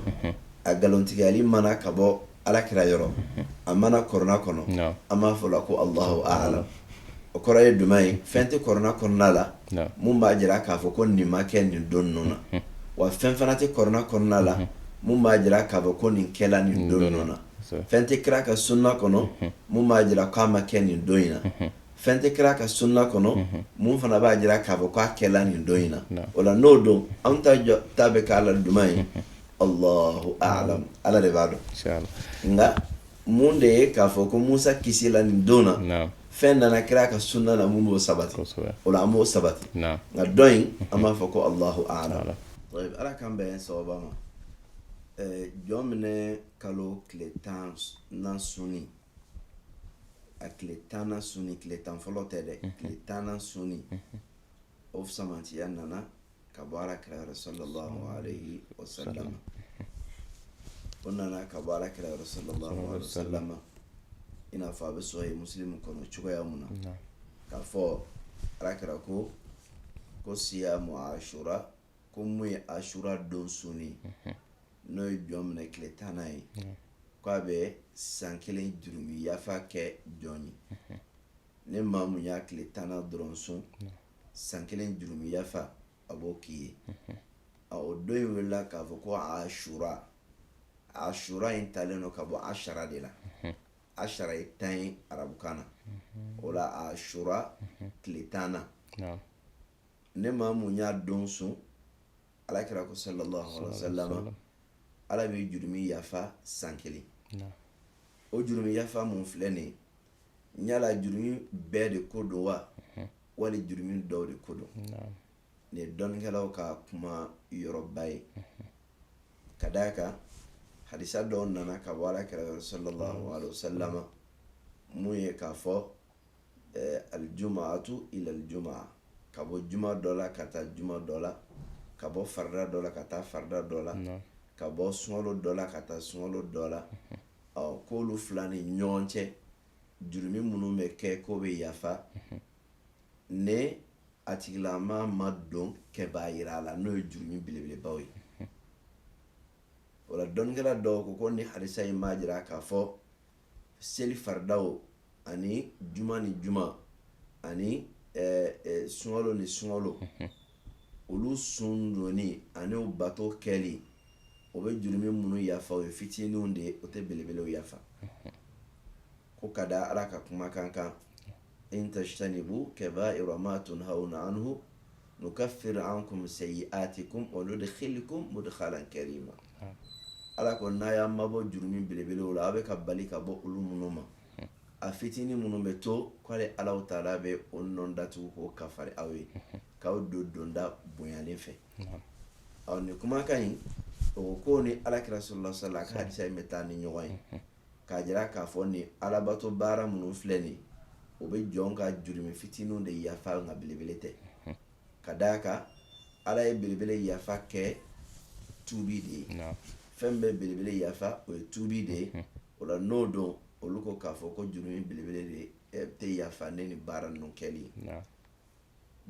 a nkalontigiyali ma na ka bɔ ala kira yɔrɔ a ma na kɔrɔna kɔnɔ an b'a fɔ la ko alahu alam o kɔrɔ ye duman ye fɛn tɛ kɔrɔna kɔnɔna la min b'a jira k'a fɔ ko nin ma kɛ nin don ninnu na wa fɛn fana tɛ kɔrɔna kɔnɔna la min b'a jira k'a fɔ ko nin kɛla nin don ninnu na fɛn tɛ kira ka sunna kɔnɔ min b'a jira k'a ma kɛ nin don in na fɛn tɛ kira ka sunna kɔnɔ min fana b'a jira k'a fɔ k'a kɛla nin don in na o la n'o don an ta bɛ k'a la duman ye Alahu alam ala de b'a dɔn nka mun de ye k'a fɔ ko musa kisila nin don na fɛn nana kira ka sunna la mun b'o sabati o la an b'o sabati nka tɔ in an b'a fɔ ko alahu alam ala k'an bɛn sawaba ma jɔnminɛ kalo tile tannan sun a tile tannan sun tile tan fɔlɔ tɛ dɛ tile tannan sun o sɛmɛntiya nana ka bɔ ala kira yɔrɔ sallallahu alayhi wa sallam o nana ka bɔ ala kira yɔrɔ sallallahu alayhi wa sallam i n'a fɔ a bɛ sɔrɔ yen musilimu kɔnɔ cogoya mun na k'a fɔ ala kira ko ko siyamu ashura ko mun ye ashura don sunni n'o ye jɔnminɛ tile tannan ye k'a bɛ san kelen jurumi yafa kɛ jɔn ye ni maa mun y'a tile tannan dɔrɔn sun san kelen jurumi yafa a b'o k'i ye a o don in welela k'a fɔ ko ashura ashura in talen don ka bɔ ashara de la ashara ye tan ye arabukan na o la ashura tile tannan ni maa mun y'a don sun ala kira ko sallallahu alaihi wa sallam ala bɛ jurumi yafa san kelen o jurumi yafa mun filɛ nin ye yala jurumi bɛɛ de ko don wa mhm. wali jurumi dɔw de ko don nin ye dɔnnikɛlaw ka kuma yɔrɔba ye mhm. ka d'a kan hadisa dɔw nana ka bɔ ala kira yɔrɔ sallallahu alaihi wasallama mun ye k'a fɔ eh, aljumaatu ila aljumaa ka bɔ juma dɔ la ka taa juma dɔ la ka bɔ farida dɔ la ka taa farida dɔ la ka bɔ sunkalo dɔ la ka taa sunkalo dɔ la mhm. ɔ k'olu fila ni ɲɔgɔn cɛ jurumi minnu bɛ kɛ k'o bɛ yafa mhm. ni a tigilama ma don kaba'ira la n'o ye jurumi belebelebaw ye mhm. o la dɔnnikɛla dɔw ko ko ni hadisa in b'a jira k'a fɔ seli faridaw ani juma ni juma ani eh, eh, sunkalo ni sunkalo mhm. olu sun donni ani u bato kɛli o bɛ jurumi minnu yafa o ye fitininw de ye o tɛ belebelew yafa ko ka da ala ka kumakan kan in tajtanibu kaba'ira ma tunhawna anhu nukaffir ankum sayyi'atikum wa nudkhilukum mudkhalan karima ala ko n'a y'a mabɔ jurumi belebelew la aw bɛ ka bali ka bɔ olu minnu ma a fitinin minnu bɛ to k'ale ala ta'ala bɛ o nɔ datugu k'o kafari aw ye k'aw don donda bonyalen fɛ ɔ nin kumakan in o ko ni ala kira sallallahu alaihi wasallam ka hadisa in bɛ taa ni ɲɔgɔn ye k'a jira k'a fɔ ni alabato baara minnu filɛ nin o bɛ jɔn ka jurumi fitinin de yafa nka belebele tɛ ka d'a kan ala ye belebele yafa kɛ tuubi de ye fɛn bɛ belebele yafa o ye tuubi de ye o la n'o don olu ko k'a fɔ ko jurumi belebele de eh, tɛ yafa ni nin baara ninnu kɛli ye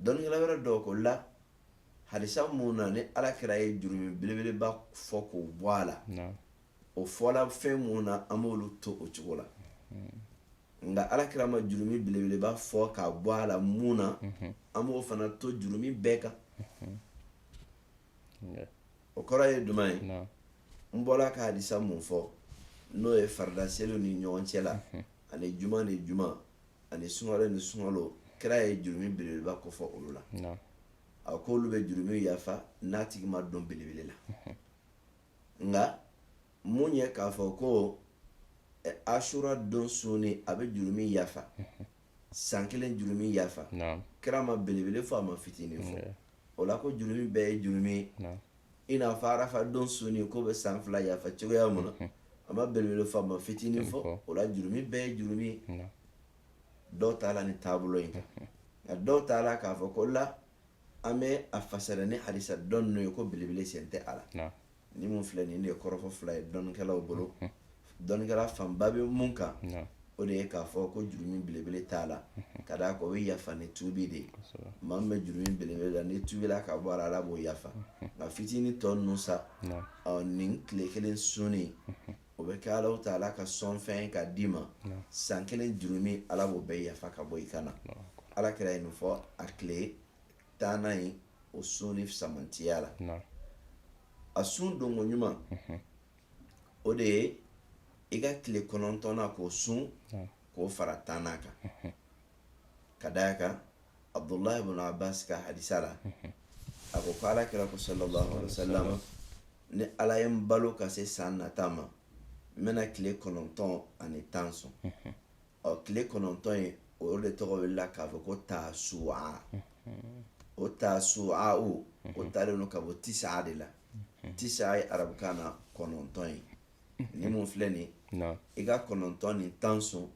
dɔnnikɛla wɛrɛ dɔw ko la hadisa mun na ni ala kira ye jurumi belebeleba fɔ k'o bɔ a la o fɔla fɛn mun na an b'olu to o cogo la mm. nka ala kira ma jurumi belebeleba fɔ k'a bɔ a la mun na mm-hmm. an b'o fana to jurumi bɛɛ kan mm-hmm. o kɔrɔ ye jumɛn ye n bɔra ka hadisa mun fɔ n'o ye farida seliw ni ɲɔgɔn cɛ la ani juma ni juma ani sunkalo ni sunkalo kira ye jurumi belebeleba kofɔ olu la a ko olu bɛ jurumi yafa n'a tigi ma don belebele la nka mun ye k'a fɔ ko asura don suni a bɛ jurumi yafa san kelen jurumi yafa kira ma belebele fɔ a ma fitinin fɔ o la ko jurumi bɛɛ ye jurumi ye i n'a fɔ arafa don suni k'o bɛ san fila yafa cogoya mun na mhm. a ma belebele fɔ a ma fitinin fɔ o la jurumi bɛɛ ye jurumi ye dɔw taala nin taabolo in kan mhm. nka dɔw taala k'a fɔ ko la an bɛ a fasara ni hadisa dɔ ninnu ye ko belebele sen tɛ a la ni mun filɛ nin de ye kɔrɔfɔ fila ye dɔnnikɛlaw bolo dɔnnikɛla fanba bɛ mun kan o de ye k'a fɔ ko jurumu belebele t'a la ka d'a kan o bɛ yafa ni tubi de ye maa min bɛ jurumu belebele la n'i tubila ka bɔ a la ala b'o yafa nka fitinin tɔ ninnu sa nin tile kelen sunni o bɛ kɛ ala taala ka sɔnfɛn ka d'i ma san kelen jurumu ala b'o bɛɛ yafa ka bɔ i kan na alakira ye nin fɔ a tile tannan in o sunni samantiya la a sun donko ɲuman mhm. o de ye i ka tile kɔnɔntɔnnan k'o sun k'o fara tannan kan mhm. ka d'a kan abdulahi ibn abbas ka hadisa la mhm. a ko ko ala kira ko sallallahu alaihi wasallam ni ala ye n balo ka se san nata ma n bɛna tile kɔnɔntɔn ani tan sun ɔ tile kɔnɔntɔn in o de tɔgɔ welela k'a fɔ ko taasuwa o taasuwa o o taalen don ka bɔ tisaa de la tisaa ye arabukan na kɔnɔntɔn ye ni mun filɛ nin i ka kɔnɔntɔn ni tan sun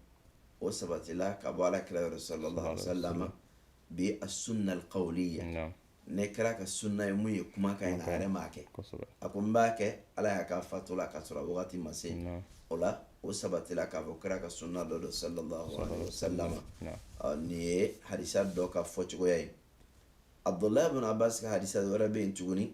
o sabatila ka bɔ alakira yɔrɔ sallallahu alaihi wa sallam bi assunna alqawliya naamu nin kira ka sunna ye mun ye kumakan ye nka a yɛrɛ m'a kɛ kosɛbɛ a ko n b'a kɛ ala y'a ka fatu la k'a sɔrɔ a wagati ma se naamu o la o sabatila k'a fɔ kira ka sunna dɔ don sallallahu alaihi wasallam naamu ɔ nin ye hadisa dɔ ka fɔcogoya ye abdullahi bin abbas ka hadisa wɛrɛ bɛ yen tuguni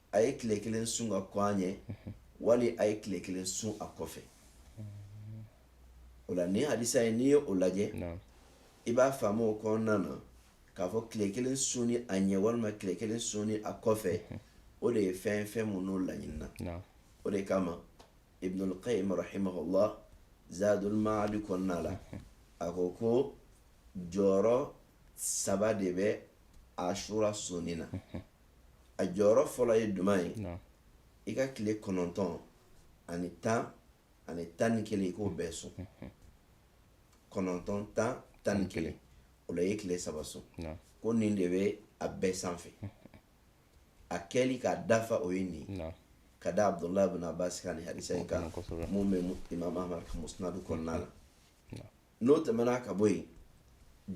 a ye tile kelen sun ka kɔn a ɲɛ wali a ye tile kelen sun a kɔfɛ o la nin hadisa in n'i ye o lajɛ i b'a faamu o kɔnɔna na k'a fɔ tile kelen sunni a ɲɛ walima tile kelen sunni a kɔfɛ o de ye fɛn fɛn minnu laɲinina o de kama ibnul qayyim rahimahullah zadul maadi kɔnɔna la a ko ko jɔyɔrɔ saba de bɛ ashura sunni na a jɔyɔrɔ fɔlɔ ye jumɛn ye i ka tile kɔnɔntɔn ani tan ani tan ni kelen i k'o bɛɛ sun kɔnɔntɔn tan tan ni kelen o la i ye tile saba sun ko nin de bɛ a bɛɛ sanfɛ a kɛli k'a dafa o ye nin ye ka da abdulahi bin abbas ka nin hadisa in kan mun bɛ imam ahmad ka musnadu kɔnɔna la n'o tɛmɛna ka bɔ yen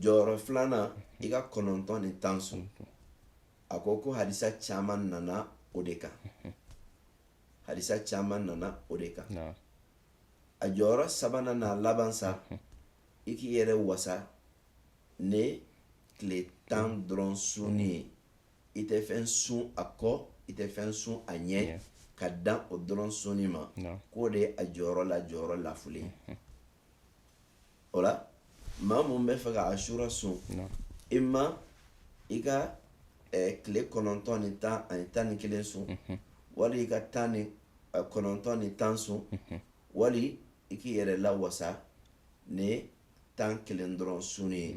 jɔyɔrɔ filanan i ka kɔnɔntɔn ni tan sun a ko ko hadisa caman nana o de kan hadisa caman nana o de kan a jɔyɔrɔ sabanan n'a laban sa i k'i yɛrɛ wasa ni tile tan dɔrɔn sunni ye i tɛ fɛn sun a kɔ i tɛ fɛn sun a ɲɛ ka dan o dɔrɔn sunni ma k'o de ye a jɔyɔrɔ la jɔyɔrɔ lafulen o la maa mun b'a fɛ ka asura sun ima i ka tile kɔnɔntɔn ni tan ani tan ni kelen sun mhm. wali i ka tan ni kɔnɔntɔn ni tan sun mhm. wali i k'i yɛrɛ lawasa ni tan kelen dɔrɔn sunni ye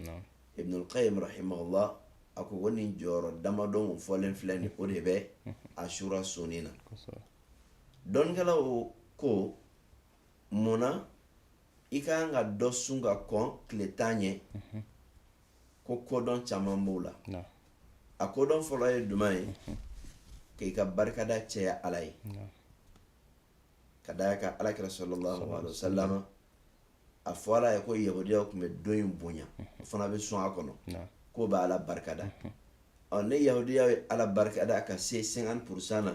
ibnul qayyim rahimahullah a ko ko nin jɔyɔrɔ damadɔ mun fɔlen filɛ nin o de bɛ mhm. asura sunni na dɔnnikɛlaw ko mun na i ka kan ka dɔ sun ka kɔn tile tan ɲɛ mhm. ko kodɔn caman b'o la a kodɔn fɔlɔ ye duman ye mhm. k'i ka barikada cɛya ala ye ka d'a kan ala kira sallallahu alaihi wasallam a fɔla a ye ko yahudiyaw tun bɛ don in bonya mhm. o fana bɛ sun a kɔnɔ k'o bɛ ala barikada ɔ ni yahudiyaw ye ala barikada ka se 50 porosan na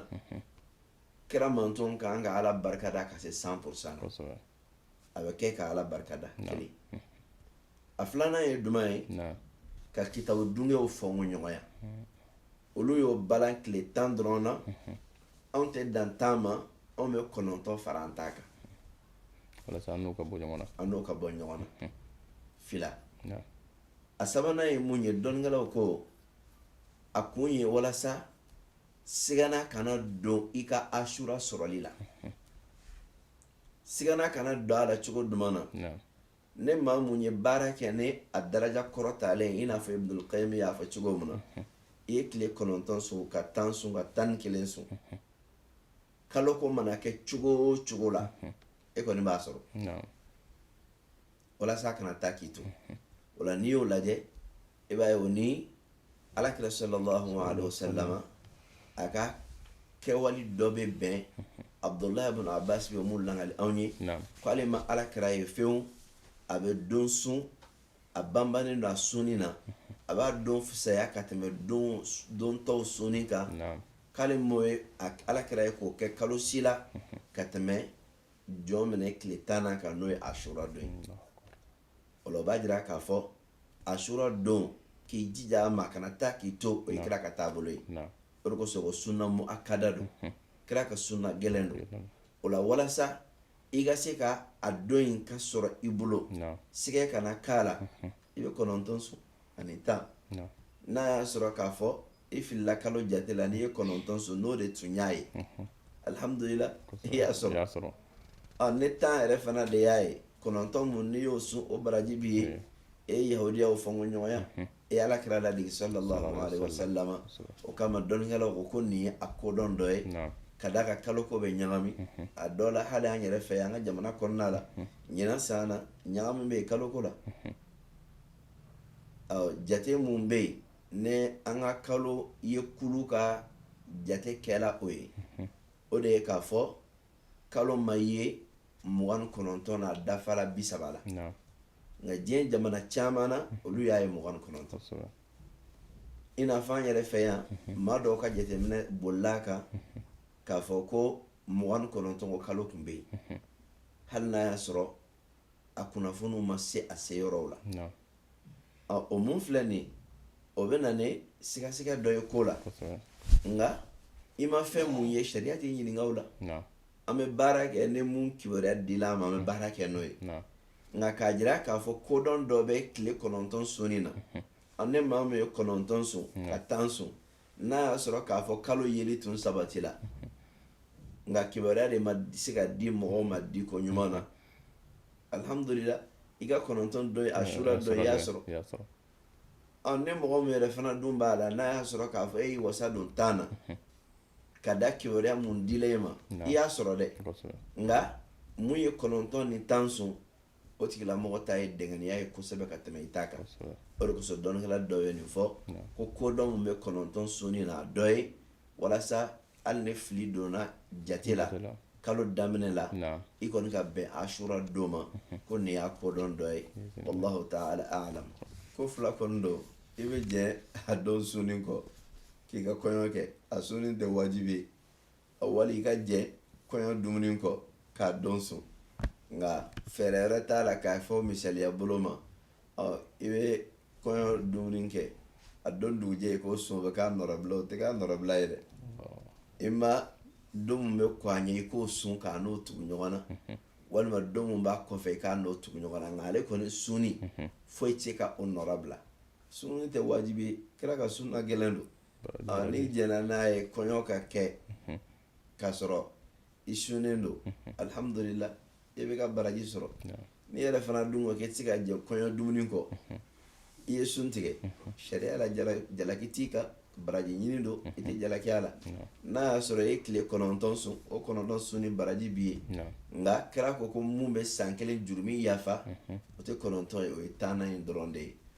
kira manton ka kan ka ala barikada ka se san porosan na a bɛ kɛ ka ala barikada kelen a filanan ye duman ye ka kitabu dungew fɔnko ɲɔgɔnya hmm. olu y'o balan tile tan dɔrɔn na hmm. anw tɛ dan tan ma anw bɛ kɔnɔntɔn fara an ta kan walasa an n'o ka bɔ ɲɔgɔn na an n'o ka bɔ ɲɔgɔn na hmm. fila a sabanan ye mun ye dɔnnikɛlaw ko a kun ye walasa sigana kana don i ka asura sɔrɔli la sigana kana don a la cogo duman na ni maa mun ye baara kɛ ni a daraja kɔrɔtalen i n'a fɔ ibnul qayyim y'a fɔ cogo min na i ye tile kɔnɔntɔn sun ka tan sun ka tan ni kelen sun kalo ko mana kɛ cogo o cogo la e kɔni b'a sɔrɔ walasa a kana taa k'i to o la n'i y'o lajɛ i b'a ye o ni alakira sallallahu alaihi wasallama a ka kɛwali dɔ bɛ bɛn abdullahi ibn abbas bɛ mun lakali anw ye k'ale ma alakira ye fewu a bɛ don sun a banbannen don a sunni na a b'a don fisaya ka tɛmɛ don tɔw sunni kan k'ale m'o ye alakira ye k'o kɛ kalo si la ka tɛmɛ jɔminɛ tile tannan kan n'o ye asura don ye o la o b'a jira k'a fɔ asura don k'i jija a ma kana taa k'i to o ye kira ka taabolo ye o de kosɔn ko sunna muakada don kira ka sunna gɛlɛn don o la walasa i ka se ka a don in ka sɔrɔ i bolo siga kana k'a la i bɛ kɔnɔntɔn sun ani tan n'a y'a sɔrɔ k'a fɔ i filila kalo jate la n'i ye kɔnɔntɔn sun n'o de tun y'a ye alihamdulila i y'a sɔrɔ ni tan yɛrɛ fana de y'a ye kɔnɔntɔn min n'i y'o sun o baraji b'i ye e ye yahudiyaw fɔnko ɲɔgɔnya e ye ala kira ladege sallallahu alaihi wasallam o kama dɔnnikɛlaw ko ko nin ye a kodɔn dɔ ye ka d'a kan kalo ko bɛ ɲagami a dɔ la hali an yɛrɛ fɛ an ka jamana kɔnɔna la ɲinan san na ɲagami bɛ yen kalo ko la jate min bɛ yen ni an ka kalo ye kulu ka jate kɛla o ye o de ye k'a fɔ kalo ma ye mugan kɔnɔntɔn na a dafara bi saba la nka diɲɛ jamana caman na olu y'a ye mugan kɔnɔntɔn i n'a fɔ an yɛrɛ fɛ yan maa dɔw ka jateminɛ bolila kan k'a fɔ ko mugan kɔnɔntɔn ko kalo tun bɛ yen hali n'a y'a sɔrɔ a kunnafoniw ma se a se yɔrɔw la ɔ o mun filɛ nin ye o bɛ na ni sigasiga dɔ ye ko la nka i ma fɛn mun ye sariya t'i ɲininka o la an bɛ baara kɛ ni mun kibaruya dila an ma an bɛ baara kɛ n'o ye nka k'a jira k'a fɔ kodɔn dɔ bɛ tile kɔnɔntɔn sunni na ani maa min ye kɔnɔntɔn sun ka tan sun n'a y'a sɔrɔ k'a fɔ kalo yeli tun sabatila nka kibaruya de ma se ka di mɔgɔw ma di ko ɲuman na alihamudulila i ka kɔnɔntɔn don ye asura don i y'a sɔrɔ ɔ ni mɔgɔ min yɛrɛ fana dun b'a la n'a y'a sɔrɔ k'a fɔ e y'i wasa don tan na ka da kibaruya mun dila e ma i y'a sɔrɔ dɛ nka mun ye kɔnɔntɔn ni tan sun o tigilamɔgɔ ta ye dɛngɛniya ye kosɛbɛ ka tɛmɛ i ta kan o de kosɔn dɔnnikɛla dɔ ye nin fɔ ko kodɔn mun bɛ kɔnɔntɔn sunni na a dɔ ye walasa hali ni fili donna jate la kalo daminɛ la i kɔni ka bɛn asura don ma ko nin y'a kodɔn dɔ ye wallahu ta'ala a'lam ko fila kɔni don i bɛ jɛ a don sunni kɔ k'i ka kɔɲɔ kɛ a sunni tɛ wajibi ye a wali i ka jɛ kɔɲɔ dumuni kɔ k'a don sun nka fɛɛrɛ wɛrɛ t'a la k'a fɔ misaliya bolo ma i bɛ kɔɲɔ dumuni kɛ a don dugujɛ i k'o sun o bɛ k'a nɔrɔbila o tɛ k'a nɔrɔbila ye dɛ ima don min bɛ kɔn a ɲɛ i k'o sun k'a n'o tugu ɲɔgɔn na walima don min b'a kɔfɛ i k'a n'o tugu ɲɔgɔn na nka ale kɔni sunni foyi tɛ se ka o nɔrɔbila sunni tɛ wajibi ye kira ka sunna gɛlɛn don n'i jɛnna n'a ye kɔɲɔ ka kɛ k'a sɔrɔ i sunnen don alihamdulila i bɛ ka baraji sɔrɔ n'i yɛrɛ fana dun ko k'i tɛ se ka jɛ kɔɲɔ dumuni kɔ i ye sun tigɛ sariya la jalaki t'i kan baraji ɲini don i tɛ jalaki a la n'a y'a sɔrɔ e ye tile kɔnɔntɔn sun o kɔnɔntɔn sunni baraji b'i ye nka kira ko ko mun bɛ san kelen jurumi yafa o tɛ kɔnɔntɔn ye o ye tannan in dɔrɔn de ye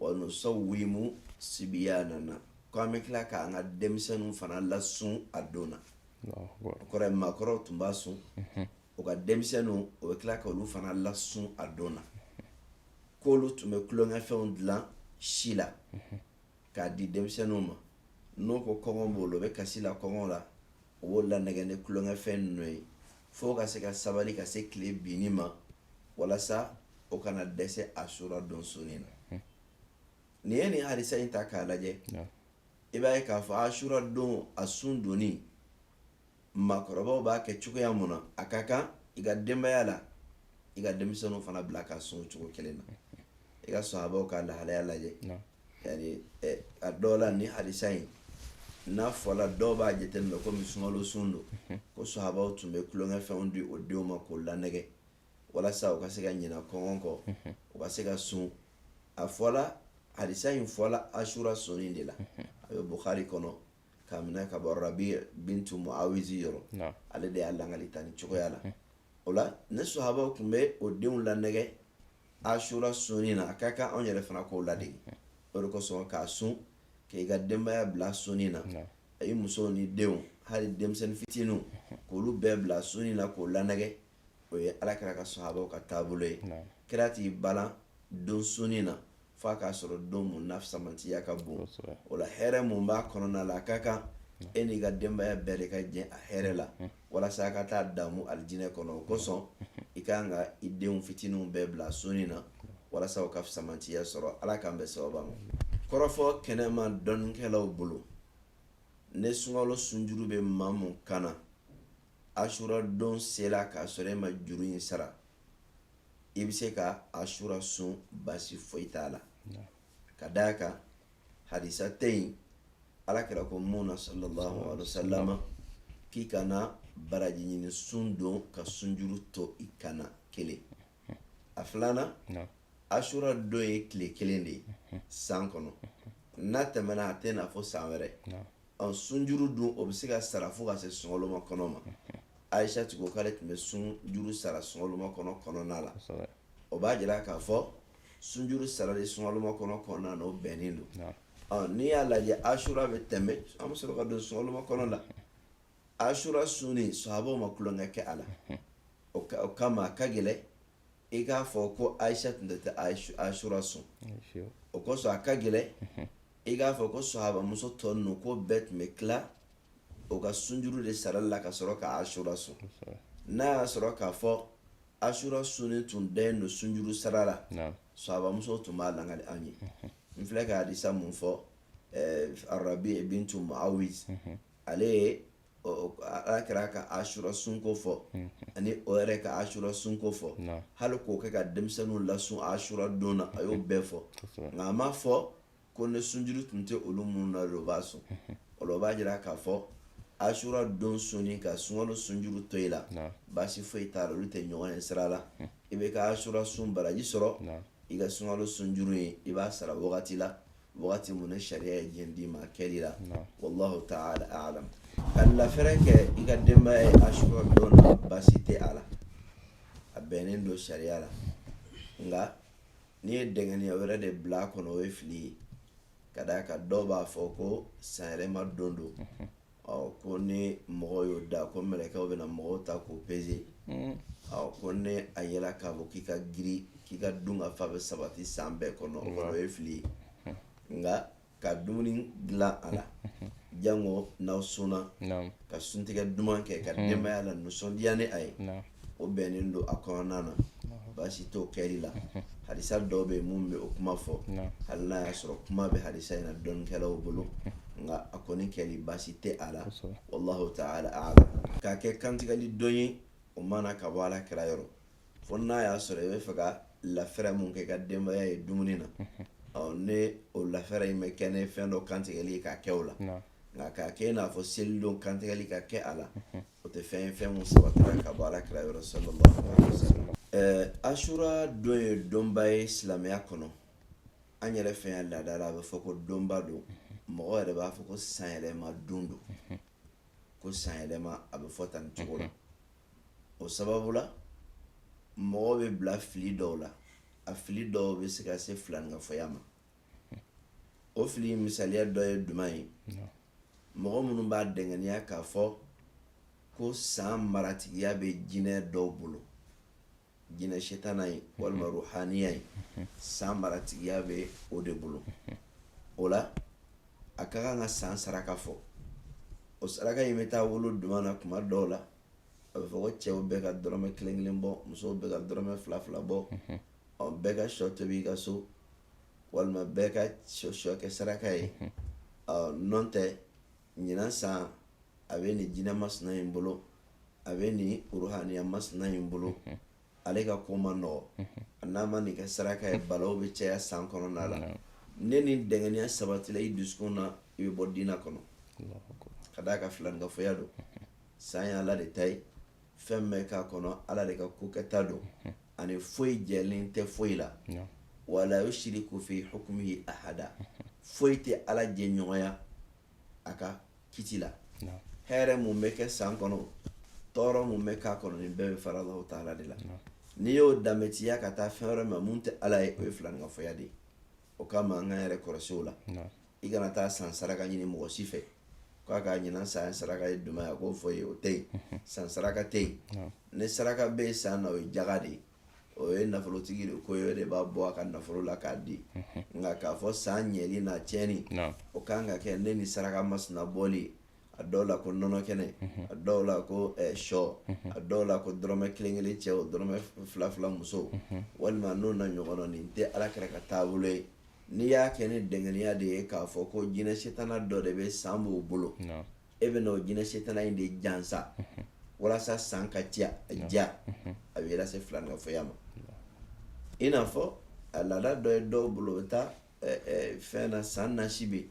wa nusawwimu sibiyanana ko an bɛ tila k'an ka denmisɛnninw fana lasun a don na o kɔrɔ ye maakɔrɔw tun b'a sun mhm. u ka denmisɛnninw o bɛ tila ka olu fana lasun a don na k'olu tun bɛ tulonkɛfɛnw dilan si la mhm. k'a di denmisɛnninw ma n'o ko kɔngɔ b'o la o bɛ kasi la kɔngɔ la o b'o lanɛgɛ ni tulonkɛfɛn ninnu ye fo ka se ka sabali ka se tile binni ma walasa o kana dɛsɛ asura don sunni na hmm. n'i ye nin hadisa in ta k'a lajɛ i b'a ye k'a fɔ asura don a sun donni maakɔrɔbaw b'a kɛ cogoya mun na a ka kan i ka denbaya la i ka denmisɛnninw fana bila ka sun cogo kelen na i ka sahabaw ka lahalaya lajɛ yani eh, a dɔw la ni hadisa in n'a fɔla dɔw b'a jateminɛ komi sunkalo sun don mhm. ko sahabaw tun bɛ tulonkɛfɛnw di o denw ma k'o lanɛgɛ walasa u ka se ka ɲina kɔngɔ kɔ mhm. u ka se ka sun a fɔla hadisa in fɔla asura sunni de la mhm. a bɛ bukari kɔnɔ k'a minɛ ka bɔ rabi bintu muawizi yɔrɔ ale de y'a lakali tan nin cogoya la o la ni sahabaw tun bɛ o denw lanɛgɛ asura sunni na a ka kan anw yɛrɛ fana k'o ladege o de kosɔn k'a sun k'i ka denbaya bila sunni na a ye muso ni denw hali denmisɛnnin fitininw k'olu bɛɛ bila sunni na k'o lanɛgɛ o ye ala kira ka sahabaw ka taabolo ye kira t'i bali a don sunni na f'a k'a sɔrɔ don mun na fisamantiya ka bon o la hɛrɛ mun b'a kɔnɔna la a ka kan e n'i ka denbaya bɛɛ de ka jɛ a hɛrɛ la walasa a ka taa damu alijinɛ kɔnɔ o kosɔn i ka kan ka i denw fitininw bɛɛ bila sunni na walasa u ka fisamantiya sɔrɔ ala k'an bɛn sawaba ma kɔrɔfɔ kɛnɛma dɔnnikɛlaw bolo ni sunkalo sunjuru bɛ maa mun kan na asura don sela k'a sɔrɔ e ma juru in sara i bɛ se ka asura sun basi foyi t'a la ka d'a kan hadisa tɛ yen ala kira ko mun na sallallahu alaihi wasallam k'i kana baraji ɲini sun don ka sunjuru to i kan na kelen a filanan asura don ye tile kelen de ye san kɔnɔ n'a tɛmɛna a tɛ na fo san wɛrɛ ɔ sunjuru dun o bɛ se ka sara fo ka se sunkalomakɔnɔ ma ayisa tun ko k'ale tun bɛ sunjuru sara sunkalomakɔnɔ kɔnɔna la o b'a jira k'a fɔ sunjuru sarali sunkalomakɔnɔ kɔnɔna na o bɛnnen don ɔ n'i y'a lajɛ asura bɛ tɛmɛ an bɛ sɔrɔ ka don sunkalomakɔnɔ la asura sunni sahabaw ma tulonkɛ kɛ a la o kama a ka gɛlɛn i k'a fɔ ko ayisa tun tɛ asura sun o kosɔn a ka gɛlɛn i k'a fɔ ko sahabamuso tɔ ninnu ko bɛɛ tun bɛ tila o ka sunjuru de sara la ka sɔrɔ ka asura sun n'a y'a sɔrɔ k'a fɔ asura sun tun da don sunjuru sara la sahabamuso tun b'a lakali anw ye n filɛ ka hadisa mun fɔ rabi bintu muawiz ale ye ala kira ka asura sunko fɔ ani o yɛrɛ ka asura sunko fɔ hali k'o ka denmisɛnninw lasun asura don na a y'o bɛɛ fɔ nka a ma fɔ ko ni sunjuru tun tɛ olu minnu na o b'a sun o b'a jira k'a fɔ asura don sunni ka sunkalo sunjuru to i la baasi foyi t'a la olu tɛ ɲɔgɔn ye sira la i bɛ ka asura sun baraji sɔrɔ i ka sunkalo sunjuru ye i b'a sara wagati la wagati mun ni sariya ye jɛn d'i ma kɛli la wallahu taala alam ka lafɛrɛ kɛ i ka denbaya ye asura don na baasi tɛ a la a bɛnnen don sariya la nka n'i ye dɛngɛniya wɛrɛ de bila a kɔnɔ o ye fili ye ka d'a kan dɔw b'a fɔ ko sanyɛlɛma don don ɔ ko ni mɔgɔw y'o da ko mɛlɛkɛw bɛna mɔgɔw ta k'o peze mm. ɔ ko ni a yela k'a fɔ k'i ka girin k'i ka dun ka fa bɛ sabati san bɛɛ kɔnɔ o kɔnɔ o ye fili ye nka ka dumuni dilan a la jango n'aw sunna ka suntigɛ duman kɛ ka mm. denbaya lanisɔndiya ni a ye o bɛnnen don a kɔnɔna na baasi t'o kɛli la hadisa dɔw bɛ yen minnu bɛ o kuma fɔ hali n'a y'a sɔrɔ kuma bɛ hadisa in na dɔnnikɛlaw bolo nka a kɔni kɛli baasi tɛ a la wallahu ta'ala a'lam k'a kɛ kantigɛli don ye o ma na ka bɔ ala kira yɔrɔ fo n'a y'a sɔrɔ i bɛ fɛ ka lafɛrɛ mun kɛ ka denbaya ye dumuni na ɔ ni o lafɛrɛ in bɛ kɛ ni fɛn dɔ kantigɛli ye k'a kɛ o la nka k'a kɛ i n'a fɔ seli don kantigɛli ka kɛ a la o tɛ fɛn ye fɛn min sabatira ka bɔ ala kira yɔrɔ sallallahu alaihi wasallam ɛɛ asura don ye donba ye silamɛya kɔnɔ an yɛrɛ fɛ yan laada la a bɛ fɔ ko donba don mɔgɔ yɛrɛ b'a fɔ ko sanyɛlɛma don don ko sanyɛlɛma a bɛ fɔ tan cogo la o sababu la mɔgɔ bɛ bila fili dɔw la a fili dɔw bɛ se ka se filankafoya ma o fili misaliya dɔ ye jumɛn ye mɔgɔ minnu b'a dɛngɛniya k'a fɔ ko san maratigiya bɛ jinɛ dɔw bolo jinɛ setana ye walima ruhaniya ye san maratigiya bɛ o de bolo o la a ka kan ka san saraka bɔ o saraka in bɛ taa bolo jumɛn na kuma dɔw la a bɛ fɔ ko cɛw bɛɛ ka dɔrɔmɛ kelen kelen bɔ musow bɛɛ ka dɔrɔmɛ fila fila bɔ ɔ bɛɛ ka shɔ tobi i ka so walima bɛɛ ka shɔ kɛ saraka ye mhm. ɔ nɔntɛ ɲinan san a bɛ nin jinɛ masina in bolo a bɛ nin ruhaniya masina in bolo mhm. ale ka ko man nɔgɔ mhm. a n'a ma nin kɛ saraka ye balaw bɛ caya san kɔnɔna la ni nin dɛngɛniya sabatila i dusukun na i bɛ bɔ diina kɔnɔ ka d'a kan filankafoya don san y'ala de ta ye fɛn bɛ k'a kɔnɔ ala de ka ko kɛta don ani foyi jɛlen tɛ foyi la wala yushriku fi hukmihi ahada foyi tɛ ala jɛɲɔgɔnya a ka kiti la hɛrɛ mun bɛ kɛ san kɔnɔ tɔɔrɔ mun bɛ k'a kɔnɔ nin bɛɛ bɛ fara ala taala de la n'i y'o danbetiya ka taa fɛn wɛrɛ ma mun tɛ ala ye o ye filankafoya de ye o kama an k'an yɛrɛ kɔlɔsi o la i kana taa san saraka ɲini mɔgɔ si fɛ k'a k'a ɲinan san saraka ye duma ye k'o fɔ n ye o tɛ yen mhm. san saraka tɛ yen ni saraka bɛ yen san na o ye jaga de ye o ye nafolotigi de ko ye o de b'a bɔ a ka nafolo la k'a di mhm. nka k'a fɔ san ɲɛli n'a tiɲɛni o kan ka kɛ ni nin saraka masina bɔli ye a dɔw la ko nɔnɔ kɛnɛ mhm. a dɔw la ko eh, shɔ mhm. a dɔw la ko dɔrɔmɛ kelen kelen cɛw dɔrɔmɛ fila fila musow walima n'o n'a ɲɔgɔnna nin tɛ ala kira ka taabolo ye n'i y'a kɛ ni dɛngɛniya de ye k'a fɔ ko jinɛ setana dɔ de bɛ san b'o bolo e bɛna o jinɛ setana in de jansa walasa san ka diya a bɛ lase filankafoya ma i n'a fɔ a laada dɔ ye dɔw bolo o bɛ taa fɛn na san nasi bɛ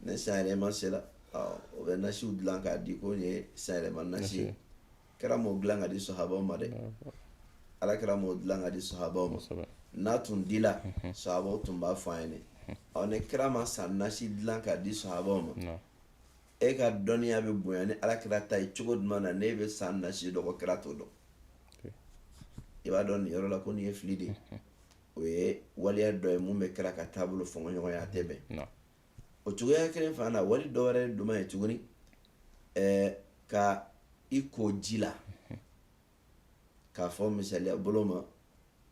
ni san yɛlɛma sera o bɛ nasiw dilan k'a di ko nin ye san yɛlɛma nasi ye kira m'o dilan ka di sahabaw ma dɛ ala kira m'o dilan ka di sahabaw ma n'a tun dila sahabaw tun b'a fɔ an ye dɛ ɔ ni kira ma san nasi dilan ka di sahabaw ma e ka dɔnniya bɛ bonya ni ala kira ta ye cogo duman na n'e bɛ san nasi dɔn ko kira t'o dɔn i b'a dɔn nin yɔrɔ la ko nin ye fili de ye o ye waleya dɔ ye mun bɛ kira ka taabolo fɔɲɔgɔnya a tɛ bɛn o cogoya kelen fana na wali dɔ wɛrɛ duma ye tuguni ɛɛ ka i ko ji la k'a fɔ misaliya bolo ma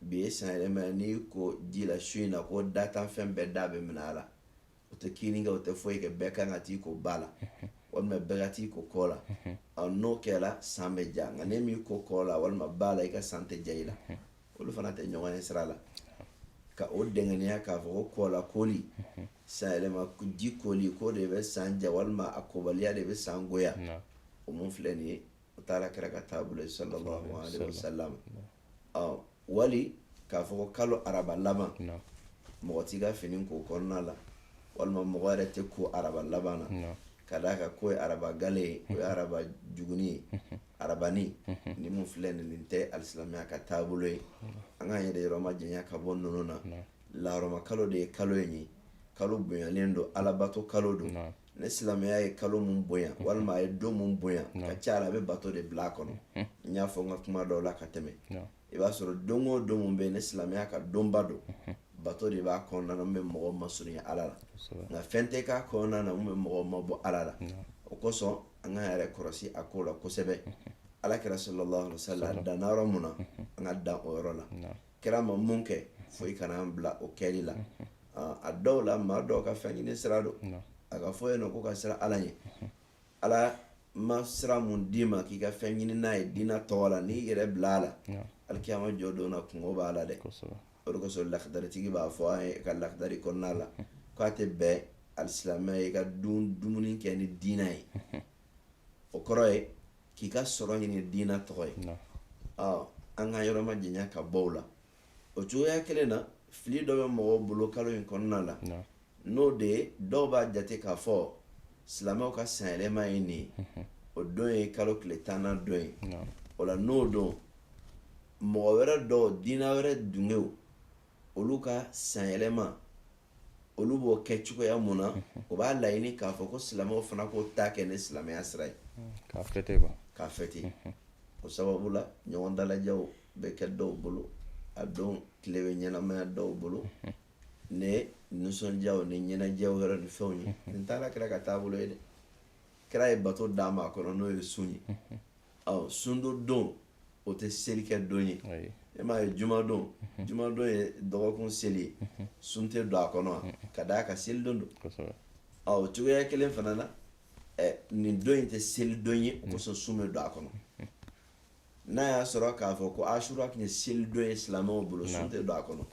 bi ye san yɛlɛma ye n'i ko ji la su in na ko datanfɛn bɛɛ da bɛ minɛ a la o tɛ kinni kɛ o tɛ foyi kɛ bɛɛ kan ka t'i ko ba la walima bɛɛ ka t'i ko kɔ la n'o kɛra san bɛ ja nka n'e m'i ko kɔ la walima ba la i ka san tɛ ja i la olu fana tɛ ɲɔgɔn ye sira la ka o dɛngɛniya k'a fɔ ko kɔ la koli san yɛlɛma ji koli k'o de bɛ san ja walima a kobaliya de bɛ san goya o mun filɛ nin ye o t'ala kira ka taabolo ye sallallahu alaihi wasallam ɔ wali k'a fɔ ko kalo araba laban mɔgɔ t'i ka fini ko o kɔnɔna la walima mɔgɔ yɛrɛ tɛ ko araba laban na ka d'a kan k'o ye araba gale ye o ye araba juguni ye arabani ni mun filɛ nin nin tɛ alisilamɛya ka taabolo ye an k'an yɛrɛ yɔrɔ majanya ka bɔ ninnu na laharama kalo de ye kalo in ye kalo bonyalen don alabato kalo don ni silamɛya ye kalo min bonya walima a ye don min bonya ka ca la a bɛ bato de bila a kɔnɔ n y'a fɔ n ka kuma dɔw la ka tɛmɛ i b'a sɔrɔ don o don min bɛ yen ni silamɛya ka donba don bato de b'a kɔnɔna na min bɛ mɔgɔ masurunya ala la nka fɛn tɛ k'a kɔnɔna na min bɛ mɔgɔ mabɔ ala la o kosɔn an k'an yɛrɛ kɔrɔsi a ko la kosɛbɛ ala kira sallallahu sallam danna yɔrɔ mun na an ka dan o yɔrɔ la kira ma mun kɛ foyi kana an bila o kɛli la a dɔw la maa dɔw ka fɛn ɲini sira don a ka fɔ yen nɔ ko ka siran ala ɲɛ ala ma sira mun d'i ma k'i ka fɛn ɲini n'a ye diinɛ tɔgɔ la n'i yɛrɛ bila a la alikiyama jɔ don na kunko b'a la dɛ o de kosɔn lakdaritigi b'a fɔ an ye a ka lakdari kɔnɔna la k'a tɛ bɛn alisilamɛ ye ka dun dumuni kɛ ni diinɛ ye o kɔrɔ ye k'i ka sɔrɔ ɲini diinɛ tɔgɔ ye an k'an yɔrɔ majanya ka bɔ o la o cogoya kelen na fili dɔ bɛ mɔgɔw bolo kalo in kɔnɔna la n'o de ye dɔw b'a jate k'a fɔ silamɛw ka sanyɛlɛma ye nin ye o don ye kalo tile tannan don ye o la n'o don mɔgɔ wɛrɛ dɔw diinɛ wɛrɛ dungew olu ka sanyɛlɛma olu b'o kɛ cogoya mun na o b'a laɲini k'a fɔ ko silamɛw fana k'o ta kɛ ni silamɛya sira ye k'a fêter quoi k'a fêter o sababu la ɲɔgɔn dalajɛw bɛ kɛ dɔw bolo a don tile bɛ ɲɛnamaya dɔw bolo ni nisɔndiyaw ni ɲɛnajɛw yɛrɛ ni fɛnw ye nin tɛ ala kira ka taabolo ye dɛ kira ye bato d'an ma a kɔnɔ n'o ye sun ye ɔ sundon don o tɛ seli kɛ don ye e m'a ye jumadon mhm. jumadon ye dɔgɔkun seli ye mhm. sun tɛ don a kɔnɔ mhm. ka d'a kan seli don don ɔ o cogoya kelen fana na ɛ nin don in tɛ seli don ye o kosɔn sun bɛ don a kɔnɔ n'a y'a sɔrɔ k'a fɔ ko asura tun ye seli don ye silamɛw bolo sun tɛ don a kɔnɔ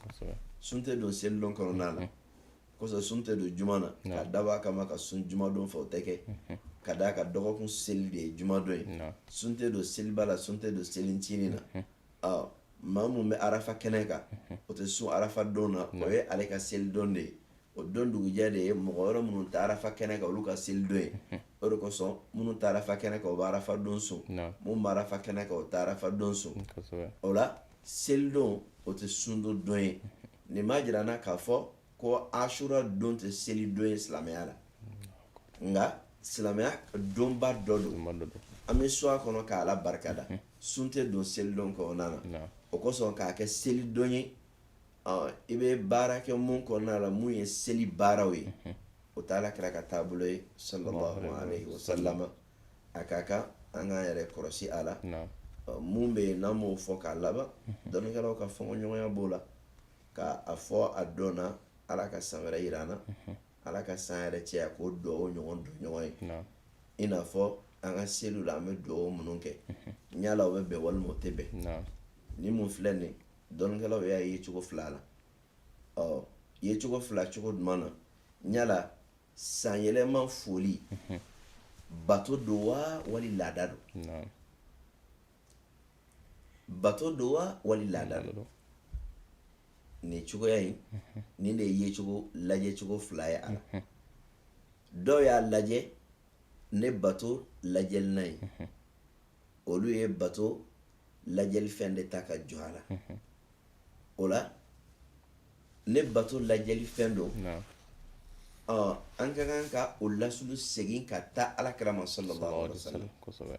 sun tɛ don seli don kɔnɔna na kosɔn sun tɛ don juma na k'a dabɔ a kama ka sun jumadon fɛ o tɛ kɛ ka d'a kan dɔgɔkun seli de ye jumadon ye sun tɛ don seliba la sun tɛ don selincinin na maa min bɛ arafa kɛnɛ kan o tɛ sun arafa don na o ye ale ka selidon de ye o don dugujɛ de ye mɔgɔ wɛrɛ minnu tɛ arafa kɛnɛ kan olu ka selidon ye o de kosɔn minnu tɛ arafa kɛnɛ kan o bɛ arafa don sun minnu bɛ arafa kɛnɛ kan o tɛ arafa don sun o la Selidon o tɛ sundon don ye nin b'a jira an na k'a fɔ ko asura don tɛ selidon ye silamɛya la nka silamɛya donba dɔ don an bɛ sun a kɔnɔ ka ala barika da sun tɛ don selidon kɔnɔna na o kosɔn k'a kɛ selidon ye i bɛ baara kɛ mun kɔnɔna la mun ye seli baaraw ye o t'ala kira ka taabolo ye sa sa a ka kan an k'an yɛrɛ kɔlɔsi a la mun bɛ yen n'an b'o fɔ k'a laban mhm. dɔnnikɛlaw ka fɔɲɔgɔnya b'o la ka a fɔ a don na ala ka san wɛrɛ jira an na mhm. ala ka san hɛrɛ caya k'o dugawu ɲɔgɔn don ɲɔgɔn ye i n'a fɔ an ka seliw la an bɛ dugawu minnu kɛ mhm. yala o bɛ bɛn walima o tɛ bɛn ni mun filɛ nin dɔnnikɛlaw y'a ye cogo fila la o ye cogo fila cogo jumɛn na yala sanyɛlɛma foli bato don wa wali laada don bato don wa wali laada don nin cogoya in nin de ye cogo lajɛ cogo fila ye a la dɔw y'a lajɛ ni bato lajɛli na ye olu ye bato lajɛli fɛn de ta ka jɔ a la o la ni bato lajɛli fɛn don an ka kan ka o lasulu segin ka taa ala kira ma sallallahu alaihi wasallam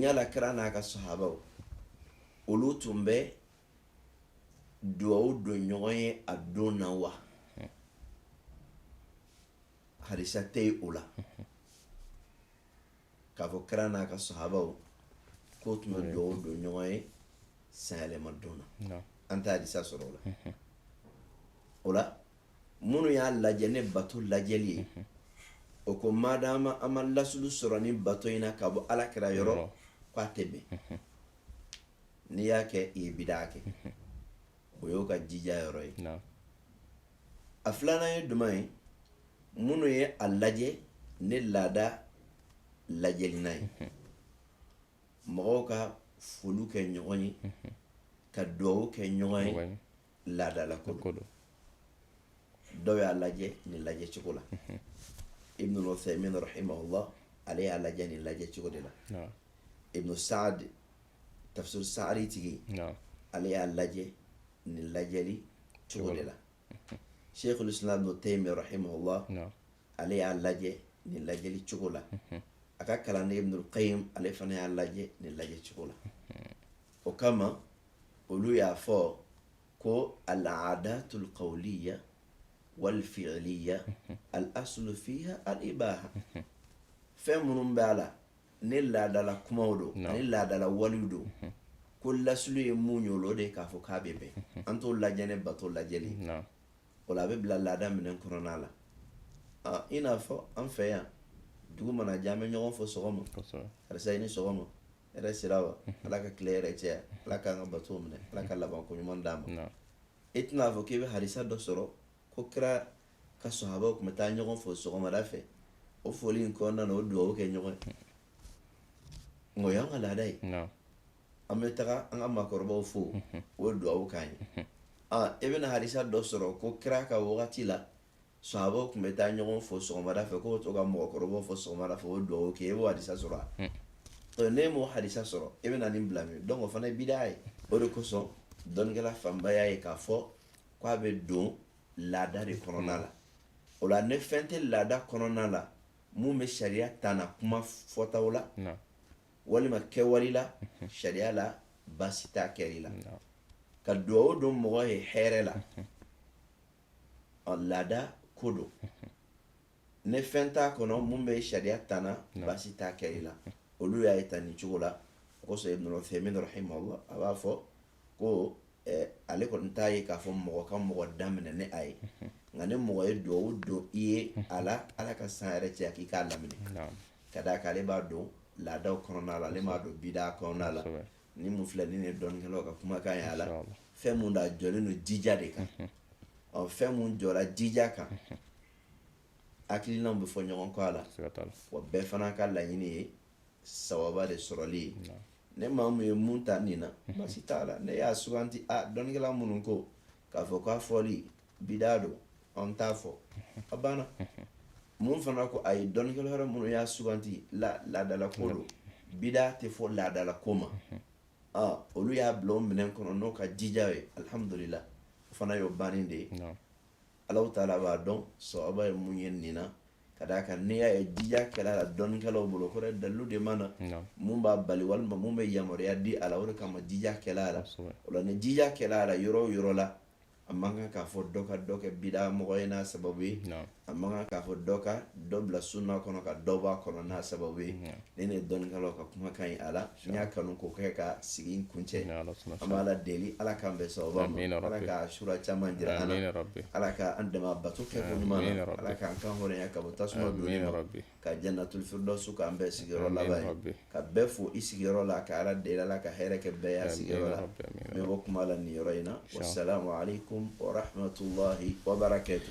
yala kira n'a ka sahabaw olu tun bɛ dugawu don ɲɔgɔn ye a don na wa harisa tɛ yen o la k'a fɔ kira n'a ka sahabaw k'o tun bɛ dugawu don ɲɔgɔn ye sanyɛlɛma don na an tɛ hadisa sɔrɔ o la o la minnu y'a lajɛ ni bato lajɛli ye o ko madama an ma lasulu sɔrɔ nin bato in na ka bɔ ala kira yɔrɔ k'a tɛ bɛn n'i y'a kɛ i ye bidaa kɛ o y'o ka jija yɔrɔ ye a filanan ye jumɛn ye minnu ye a lajɛ ni laada lajɛli na ye mɔgɔw ka foliw kɛ ɲɔgɔn ye ka dugawu kɛ ɲɔgɔn ye laadala ko don dɔw y'a lajɛ nin lajɛ cogo la ibnu uthaymin rahimahullah ale y'a lajɛ nin lajɛ cogo de la ibnu saadi tafsir saadi tigi ale y'a lajɛ nin lajɛli cogo de la Sheikhul islam ibnu taymiyya rahimahullah ale y'a lajɛ nin lajɛli cogo la a ka kalanden ibnul qayyim ale fana y'a lajɛ nin lajɛ cogo la o kama olu y'a fɔ ko al-aadatul qawliya wal fi'liya al-aslu fiha al-ibaha fɛn minnu bɛ a la ni laadala kumaw don ani laadala walew don mhm. ko lasulu ye mun ye o de k'a fɔ k'a bɛ bɛn mhm. an t'o lajɛ ni bato lajɛli o la a bɛ bila laada minɛn kɔnɔna la i n'a fɔ an fɛ yan dugu mana jɛ an bɛ ɲɔgɔn fo sɔgɔma karisa i ni sɔgɔma hɛrɛ sira wa mhm. ala ka tile hɛrɛ caya ala k'an ka bato minɛ ala ka labanko ɲuman d'an ma i tɛna fɔ k'i bɛ harisa dɔ sɔrɔ ko kira ka sahabaw tun bɛ taa ɲɔgɔn fo sɔgɔmada fɛ o foli in kɔnɔna na o dugawu kɛ ɲɔgɔn ye nka o y'an ka laada ye an bɛ taga an ka maakɔrɔbaw fo o ye dugawu k'an ye e bɛna hadisa dɔ sɔrɔ ko kira ka wagati la sahabaw tun bɛ taa ɲɔgɔn fo sɔgɔmada fɛ k'o to ka mɔgɔkɔrɔbaw fo sɔgɔmada fɛ o dugawu kɛ e b'o hadisa sɔrɔ a ne m'o hadisa sɔrɔ e bɛna nin bila min donc o fana ye bida ye o de kosɔn dɔnnikɛla fanba y'a ye k'a fɔ k'a bɛ don laada de kɔnɔna la o la ni fɛn tɛ laada kɔnɔna la mun bɛ sariya tana kuma fɔtaw la walima kɛwale la sariya la baasi t'a kɛli la ka dugawu don mɔgɔ ye hɛrɛ la ɔ laada ko don ni fɛn t'a kɔnɔ mun bɛ sariya tana baasi t'a kɛli la olu y'a ye tan nin cogo la o kosɔn ibn uthaymin rahimahullah a b'a fɔ ko eh, ale kɔni t'a ye k'a fɔ mɔgɔ ka mɔgɔ daminɛ ni a ye nka ni mɔgɔ ye dugawu don i ye a la ala ka san hɛrɛ caya k'i k'a laminɛ ka d'a kan ale b'a don laadaw kɔnɔna la ale m'a don bidaa kɔnɔna la nin mun filɛ nin ne dɔnnikɛlaw ka kumakan ye a la fɛn mun da jɔlen don jija de kan ɔ fɛn mun jɔra jija kan hakilinaw bɛ fɔ ɲɔgɔn kɔ a la wa bɛɛ fana ka laɲini ye sawaba de sɔrɔli ye ni maa mun ye mun ta nin na basi t'a la n'i y'a suganti a dɔnnikɛla minnu ko k'a fɔ k'a fɔli bidaa don an t'a fɔ a banna mun fana ko ayi dɔnnikɛla wɛrɛ minnu y'a suganti laadala ko don bidaa tɛ fɔ laadala ko ma olu y'a bila o minɛn kɔnɔ n'o ka jija ye alihamudulila o fana y'o bannen de ye alahu taala b'a dɔn sawaba ye mun ye nin na ka d'a kan n'i y'a ye jija kɛra a la dɔnnikɛlaw bolo o kɔrɔ ye dalilu de ma na mun b'a bali walima mun bɛ yamaruya di a la o de kama jija kɛra a la o la ni jija kɛra a la yɔrɔ o yɔrɔ la a man kan k'a fɔ dɔ ka dɔ kɛ bida mɔgɔ ye n'a sababu ye a man kan k'a fɔ dɔ ka dɔ bila sunna kɔnɔ ka dɔ b'a kɔnɔ n'a sababu ye nin ne dɔnnikɛlaw ka kumakan ye a la n y'a kanu k'o kɛ ka sigi in kuncɛ an b'ala deli ala k'an bɛn sawaba ma ala ka sura caman jira an na ala ka an dɛmɛ a bato kɛko ɲuman na ala k'an kan hɔrɔnya ka bɔ tasuma donni ma ka jannatul firdausu k'an bɛɛ sigiyɔrɔ laban ye ka bɛɛ fo i sigiyɔrɔ la ka ala deli ala ka hɛrɛ kɛ bɛɛ y'a sigiyɔrɔ la n bɛ bɔ kuma la nin yɔrɔ in na wa salamu alekum warahmatulahi wabarakatu